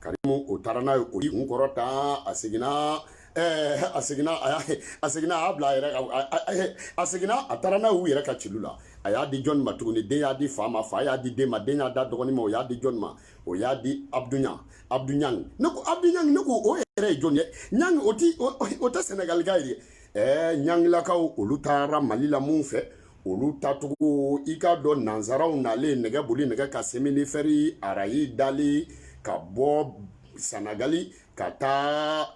karimu o taara n'a ye o kun kɔrɔ tan a seginna ɛɛ a seginna a y'a a seginna a y'a bila a yɛrɛ ka a seginna a taara n'a y'u yɛrɛ ka celu la a y'a di jɔnni ma tuguni den y'a di fa ma fa y'a di den ma den y'a d'a dɔgɔnin ma o y'a di jɔnni ma o y'a di abdu ɲa abdu ɲang ne ko abdu ɲang ne ko o yɛrɛ ye jɔn ye ɲang o ti o tɛ sɛnɛgalika ye dɛ ɛɛ ɲangilakaw olu taara mali la mun fɛ olu tacogo i k'a dɔn nansaraw nalen nɛgɛ boli nɛgɛ ka seminifɛri arayi dali ka bɔ sanagali ka taa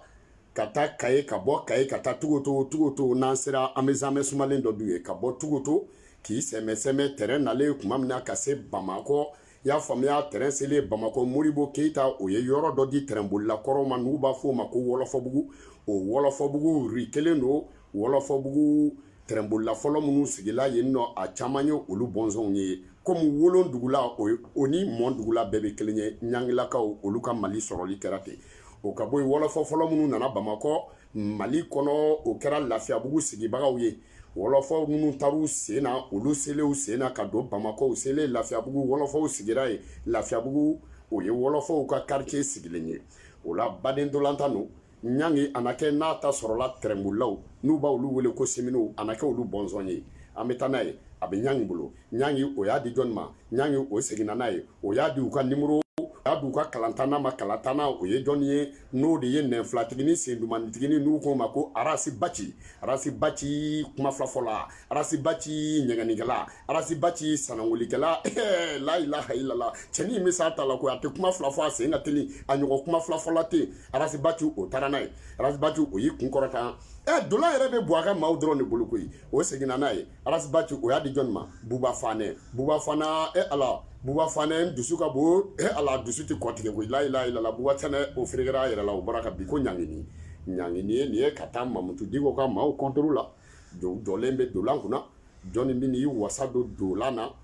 ka taa kaye ka bɔ kaye ka taa tugoto tugoto n'an sera an bɛ zamɛ sumalen dɔ dun yen ka bɔ tugoto k'i sɛmɛ sɛmɛ tɛrɛn nalen kuma min na ka se bamakɔ i y'a faamuya tɛrɛn selen bamakɔ moribo keyita o ye yɔrɔ dɔ di tɛrɛnbolila kɔrɔw ma n'u b'a fɔ o ma ko wɔlɔfɔbugu o wɔlɔfɔbugu ri kelen don wɔlɔfɔbugu tɛrɛnbolila fɔlɔ minnu sigila yen nɔ a caman ye olu bɔnsɔnw ye komi wolo dugula o ni mɔ dugula bɛɛ bɛ kelen ye ɲangilakaw olu ka mali sɔrɔli kɛra ten o ka bɔ yen wɔlɔfɔ fɔlɔ minnu nana bamakɔ mali kɔnɔ o kɛra lafiyabugu sigibagaw ye wɔlɔfɔw minnu taar'u sen na olu selen u sen na ka don bamakɔ u selen lafiyabugu wɔlɔfɔw sigira yen lafiyabugu o ye wɔlɔfɔw ka karitiye sigilen ye o la baden dolantan no ɲangi a na kɛ n'a ta sɔrɔla tɛrɛnbolilaw n'u b'olu wele ko seminow a na kɛ olu bɔnsɔn ye an be taa n'a ye a be ɲangi bolo ɲangi o y'a di jɔni ma ɲangi o seginna n'a ye o y'a di u ka nimoro y'a di u ka kalantanna ma kalantanna o ye jɔni ye n'o de ye nɛnfilatigini sendumannitigini n'u k'o ma ko arasi baci arasi baci kuma filafɔla arasi baci ɲɛgɛnnikɛla arasi baci sanangolikɛla la ilaha ilala cɛni in bɛ s'a ta la ko a tɛ kuma fila fɔ a sen ka teli a ɲɔgɔn kuma filafɔla tɛ arasi baci o taara n'a ye arasi baci o y'i kun kɔrɔta ɛ dola yɛrɛ bɛ bɔ a ka maaw dɔrɔn de bolo koyi o seginna n'a ye arasi baci o y'a di jɔnni ma buba fanɛ buba fanɛ e ala buba fanɛ dusu ka bon e ala dusu tɛ kɔtigɛ koyi la ilaha illallah buba fanɛ o ferekera a yɛrɛ la o bɔra ka bi ko ɲangini ɲangini ye nin ye ka taa mamutu diko ka maaw kɔntoro la jɔlen bɛ dolan kunna jɔnni bɛ n'i wasa don dolan na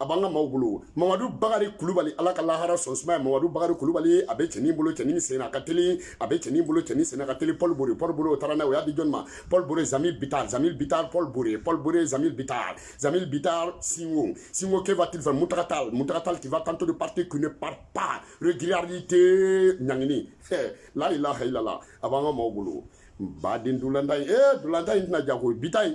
a b'an ka maaw bolo mamadu bakari kulubali ala ka lahara sɔn suma ye mamadu bakari kulubali a bɛ cɛnin bolo cɛnin senna ka teli a bɛ cɛnin bolo cɛnin senna ka teli paul bore paul bore o taara n'a ye o y'a di jɔni ma paul bore zamil bitar zamil bitar paul bore paul bore zamil bitar zamil bitar singo singo que va-t-il faire muntaga tal muntaga tal qui va tenter de partir qui ne part pas régularité ɲangini la ilaha illallah a b'an ka maaw bolo baden dolantan ye ee dolantan in tɛna ja koyi bi ta ye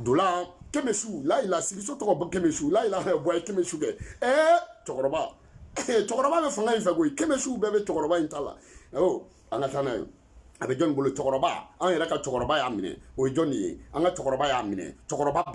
dola kɛmɛsu layila sigiso tɔgɔ bɔ kɛmɛsu layila bɔ ye kɛmɛsu kɛ ɛɛ cɛkɔrɔba cɛkɔrɔba bɛ fanga in fɛ koyi kɛmɛsu bɛɛ bɛ cɛkɔrɔba in ta la awɔ an ka taa n'a ye a bɛ jɔn bolo cɛkɔrɔba an yɛrɛ ka cɛkɔrɔba y'a minɛ o ye jɔnni ye an ka cɛkɔrɔba y'a minɛ cɛkɔrɔba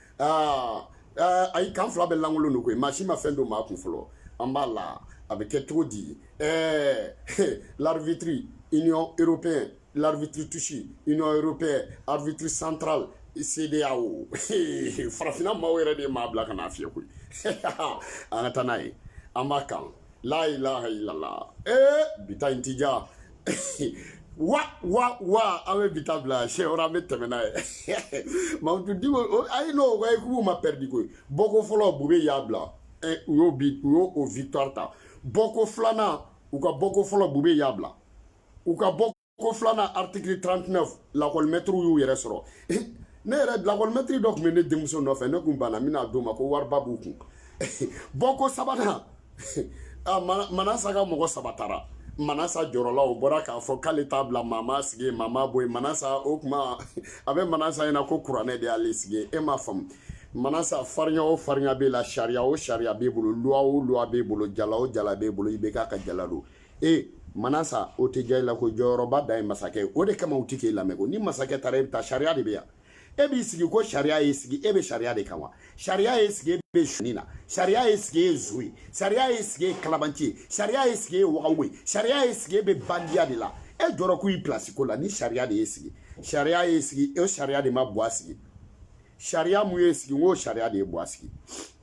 aa ayi kan fila bɛɛ lankolon don koyi maa si ma fɛn don maa kun fɔlɔ an b'a la a bɛ kɛ cogo di ɛɛ l'arbitre union européenne l'arbitre touche union européenne arbitre central CEDEAO farafinna maaw yɛrɛ de ye maa bila ka n'a fiyɛ koyi an ka taa n'a ye an b'a kan la ilaha illallah ee bi ta in ti ja wa wa wa an bɛ bi ta bila siyɛn wɛrɛ an bɛ tɛmɛ n'a ye mamutu diko a ye n'o ko k'u ma pɛridi koyi bɔko fɔlɔ bube y'a bila u y'o bi u y'o o victoire ta bɔko filanan u ka bɔko fɔlɔ bube y'a bila u ka bɔko filanan article 39 lakɔlimɛtiriw y'u yɛrɛ sɔrɔ ne yɛrɛ lakɔlimɛtiri dɔ tun bɛ ne denmuso nɔfɛ ne tun banna n bɛna d'o ma ko wariba b'u kun bɔko sabanan manasa ka mɔgɔ saba taara manasa jɔrɔla o bɔra k'a fɔ k'ale t'a bila maa m'a sigi maa m'a bɔ yen manasa o kuma a bɛ manasa ɲɛna ko kuranɛ de y'ale sigi e m'a faamu manasa farinya o farinya b'e la sariya o sariya b'e bolo luwa o luwa b'e bolo jala o jala b'e bolo IBK ka jala don e manasa o tɛ diya i la ko jɔyɔrɔba dan ye masakɛ ye o de kama u tɛ k'e lamɛn ko ni masakɛ taara e bɛ taa sariya de bɛ yan e b'i sigi ko sariya y'i sigi e bɛ sariya de kan wa sariya y'i sigi e bɛ suni na sariya y'i sigi e ye zon ye sariya y'i sigi e ye kalabanci ye sariya y'i sigi e ye wagabɔn ye sariya y'i sigi e bɛ bandiya de la e jɔrɔ ko i pilasi ko la ni sariya de y'i sigi sariya y'i sigi o sariya de ma buwa sigi sariya mun y'e sigi n k'o sariya de ye buwa sigi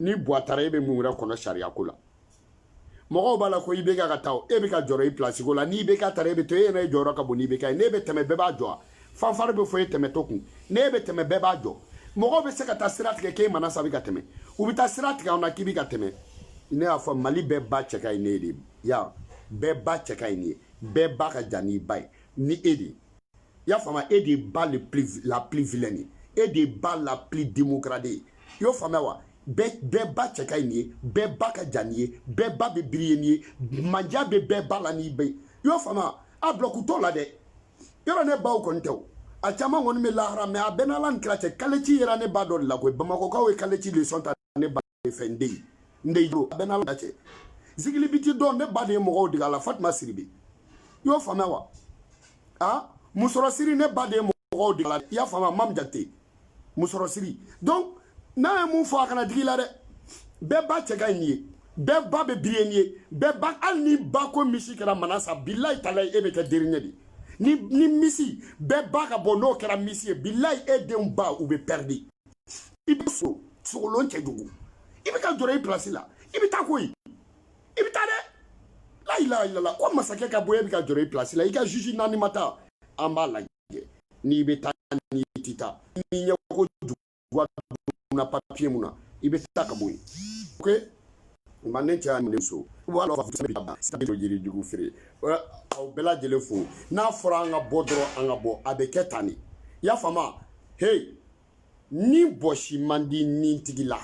ni buwa taara e bɛ mun wɛrɛ kɔnɔ sariya ko la mɔgɔw b'a la ko IBK ka taa e bɛ ka jɔrɔ i pilasi ko la ni IBK taara e bɛ to e yɛrɛ jɔyɔrɔ ka bon ni IBK ye n'e bɛ tɛmɛ bɛɛ b'a jɔ a fanfari bɛ fɔ e tɛmɛtɔ kun n'e bɛ tɛmɛ bɛɛ b'a jɔ mɔgɔw bɛ se ka taa sira tigɛ k'e manasa bɛ ka tɛmɛ u bɛ taa sira tigɛ anw na k'i bɛ ka tɛmɛ ne y'a fɔ mali bɛɛ ba cɛ ka ɲi n'e de ye ya bɛɛ ba cɛ ka ɲi n'e ye bɛɛ ba ka jan n'i ba ye ni e de ye i y'a faamuya e de ye ba le plus la plus vilaine ye e de ye ba la plus démocrate ye i y'o faamuya wa bɛɛ bɛɛ ba cɛ ka ɲi n'e ye bɛɛ ba ka jan n'e ye bɛɛ ba bɛ briller n'e ye manja bɛ bɛɛ ba la ni bɛ i y'o faamuya a bulɔku t'o la dɛ yɔrɔ ne baw kɔni tɛ o a caman kɔni bɛ lahara mɛ a bɛɛ n'ala ni kira cɛ kaleci yera ne ba dɔ de la koyi bamakɔkaw ye kaleci leçon ta ne ba de fɛ n den n den jo a bɛ n'ala cɛ zigilibiti dɔn ne ba de ye mɔgɔw dege a la fatima siribi i y'o faamuya wa a musɔrɔ siri ne ba de ye mɔgɔw dege a la i y'a faamuya mam jakite musɔrɔ siri donc n ye mun fɔ a kana digi i la dɛ bɛɛ ba cɛ ka ɲi n'e ye bɛɛ ba bɛ briller n'e ye bɛɛ ba hali ni ba ko miss kɛra manasa bilayi talayi e bɛ kɛ dernier de ye ni ni miss bɛɛ ba ka bɔ n'o kɛra miss ye bilayi e denw ba u bɛ pɛridi i bɛ so sokolon cɛ jugu i bɛ ka jɔrɔ i pilasi la i bɛ taa koyi i bɛ taa dɛ layila ilala ko masakɛ ka bɔ yen e bɛ ka jɔrɔ i pilasi la i ka juge naani ma taa an b'a lajɛ n'i bɛ taa n'i tɛ taa n'i ɲɛko juguya na papiye mun na i bɛ taa ka bɔ yen ok nka ne cɛ y'a minɛ so wa ala fisa bi ban sani to jiri jugu feere aw bɛɛ lajɛlen fo n'a fɔra an ka bɔ dɔrɔn an ka bɔ a bɛ kɛ tan de y'a faamu hey ni bɔsi man di nitigi la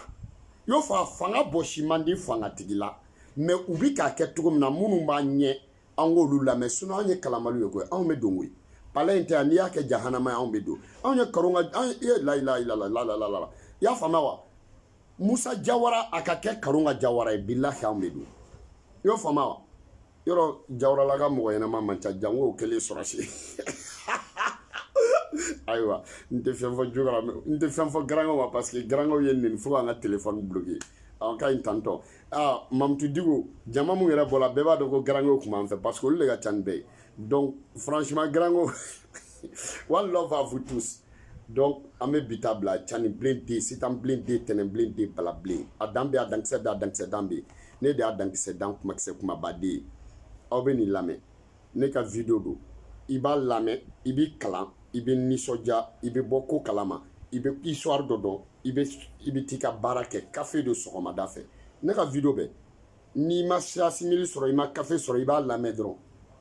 y'o faamu fanga bɔsi man di fangatigi la mɛ u bi k'a kɛ cogo min na minnu b'a ɲɛ an k'olu lamɛn sinon anw ye kalanbaliw ye koyi anw bɛ don koyi pala in tɛ yan n'i y'a kɛ jahanama ye anw bɛ don anw ye karonka anw ye layilayilalalala i y'a faama wa musa jawara a ka kɛ karonka jawara ye bilahi anw de don i y'o faama wa yɔrɔ jawaralaka mɔgɔ ɲɛnama man ca jango o kɛlen sɔrɔdasi ayiwa n tɛ fɛn fɔ jogara n tɛ fɛn fɔ garankew ma parce que garankew ye nin fɔ k'an ka telefɔni bloke an ka ɲi tantɔ aa mamutu digo jama mun yɛrɛ bɔla bɛɛ b'a dɔn ko garankew kun b'an fɛ parce que olu de ka ca ni bɛɛ ye donc franchement garankew one love à vous tous donc an bɛ bi ta bila cani bilen de sitan bilen de tɛnɛn bilen de bala bilen a dan bɛ a dankisɛ bɛ a dankisɛ dan bɛ ne de y'a dankisɛ dan kumakisɛ kumaba de ye aw bɛ nin lamɛn ne ka video don i b'a lamɛn i b'i kalan i bɛ nisɔndiya i bɛ bɔ ko kalama i bɛ histoire dɔ dɔn i bɛ i bɛ t'i ka baara kɛ kafe don sɔgɔmada fɛ ne ka video bɛ n'i ma sira simili sɔrɔ i ma kafe sɔrɔ i b'a lamɛn dɔrɔn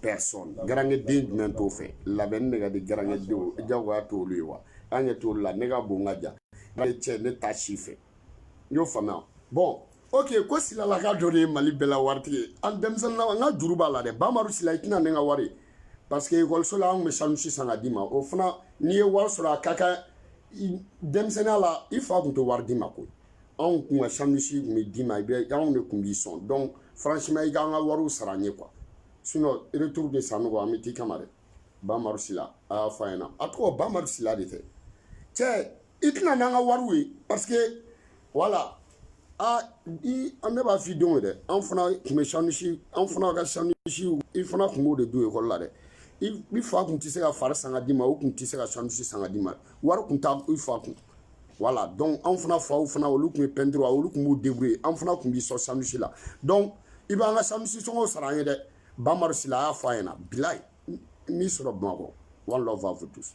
personne garange den jumɛn t'o fɛ labɛnni de ka di garange denw jagoya t'olu ye wa an ɲɛ t'olu la ne ka bon ka ja ne cɛ ne ta si fɛ n y'o faamuya bɔn ok ko silalaka dɔ de ye mali bɛɛ la waritigi ye an denmisɛnninna an ka juru b'a la dɛ bamaru sila i tɛ na n'an ka wari parce que ekɔliso la an tun bɛ sandwich san ka d'i ma o fana n'i ye wari sɔrɔ a ka kan denmisɛnninya la i fa tun tɛ wari d'i ma koyi anw kun ka sandwich kun bɛ d'i ma i bɛ anw de kun b'i sɔn donc franchement i k'an ka wariw sara an ye quoi sinon retour de sanɔgɔ an bɛ t'i kama dɛ bamaru sila a y'a fɔ a ɲɛna a tɔgɔ bamaru sila de tɛ cɛ i tɛ na n'an ka wariw ye parce que voilà a i an ne b'a f'i denw ye dɛ an fana kun bɛ sandwich an fana ka sandwichw i fana kun b'o de don ekɔli la dɛ i fa kun tɛ se ka fari san ka d'i ma o kun tɛ se ka sandwich san ka d'i ma wari kun t'a i fa kun voilà donc anw fana faw fana olu kun ye pɛntiri olu kun b'u débrouiller an fana kun b'i sɔn sandwich la donc i b'an ka sandwich sɔngɔw sara an ye dɛ bamaru sila a y'a fɔ a ɲɛna bilayi n b'i sɔrɔ bamakɔ one love à vous tous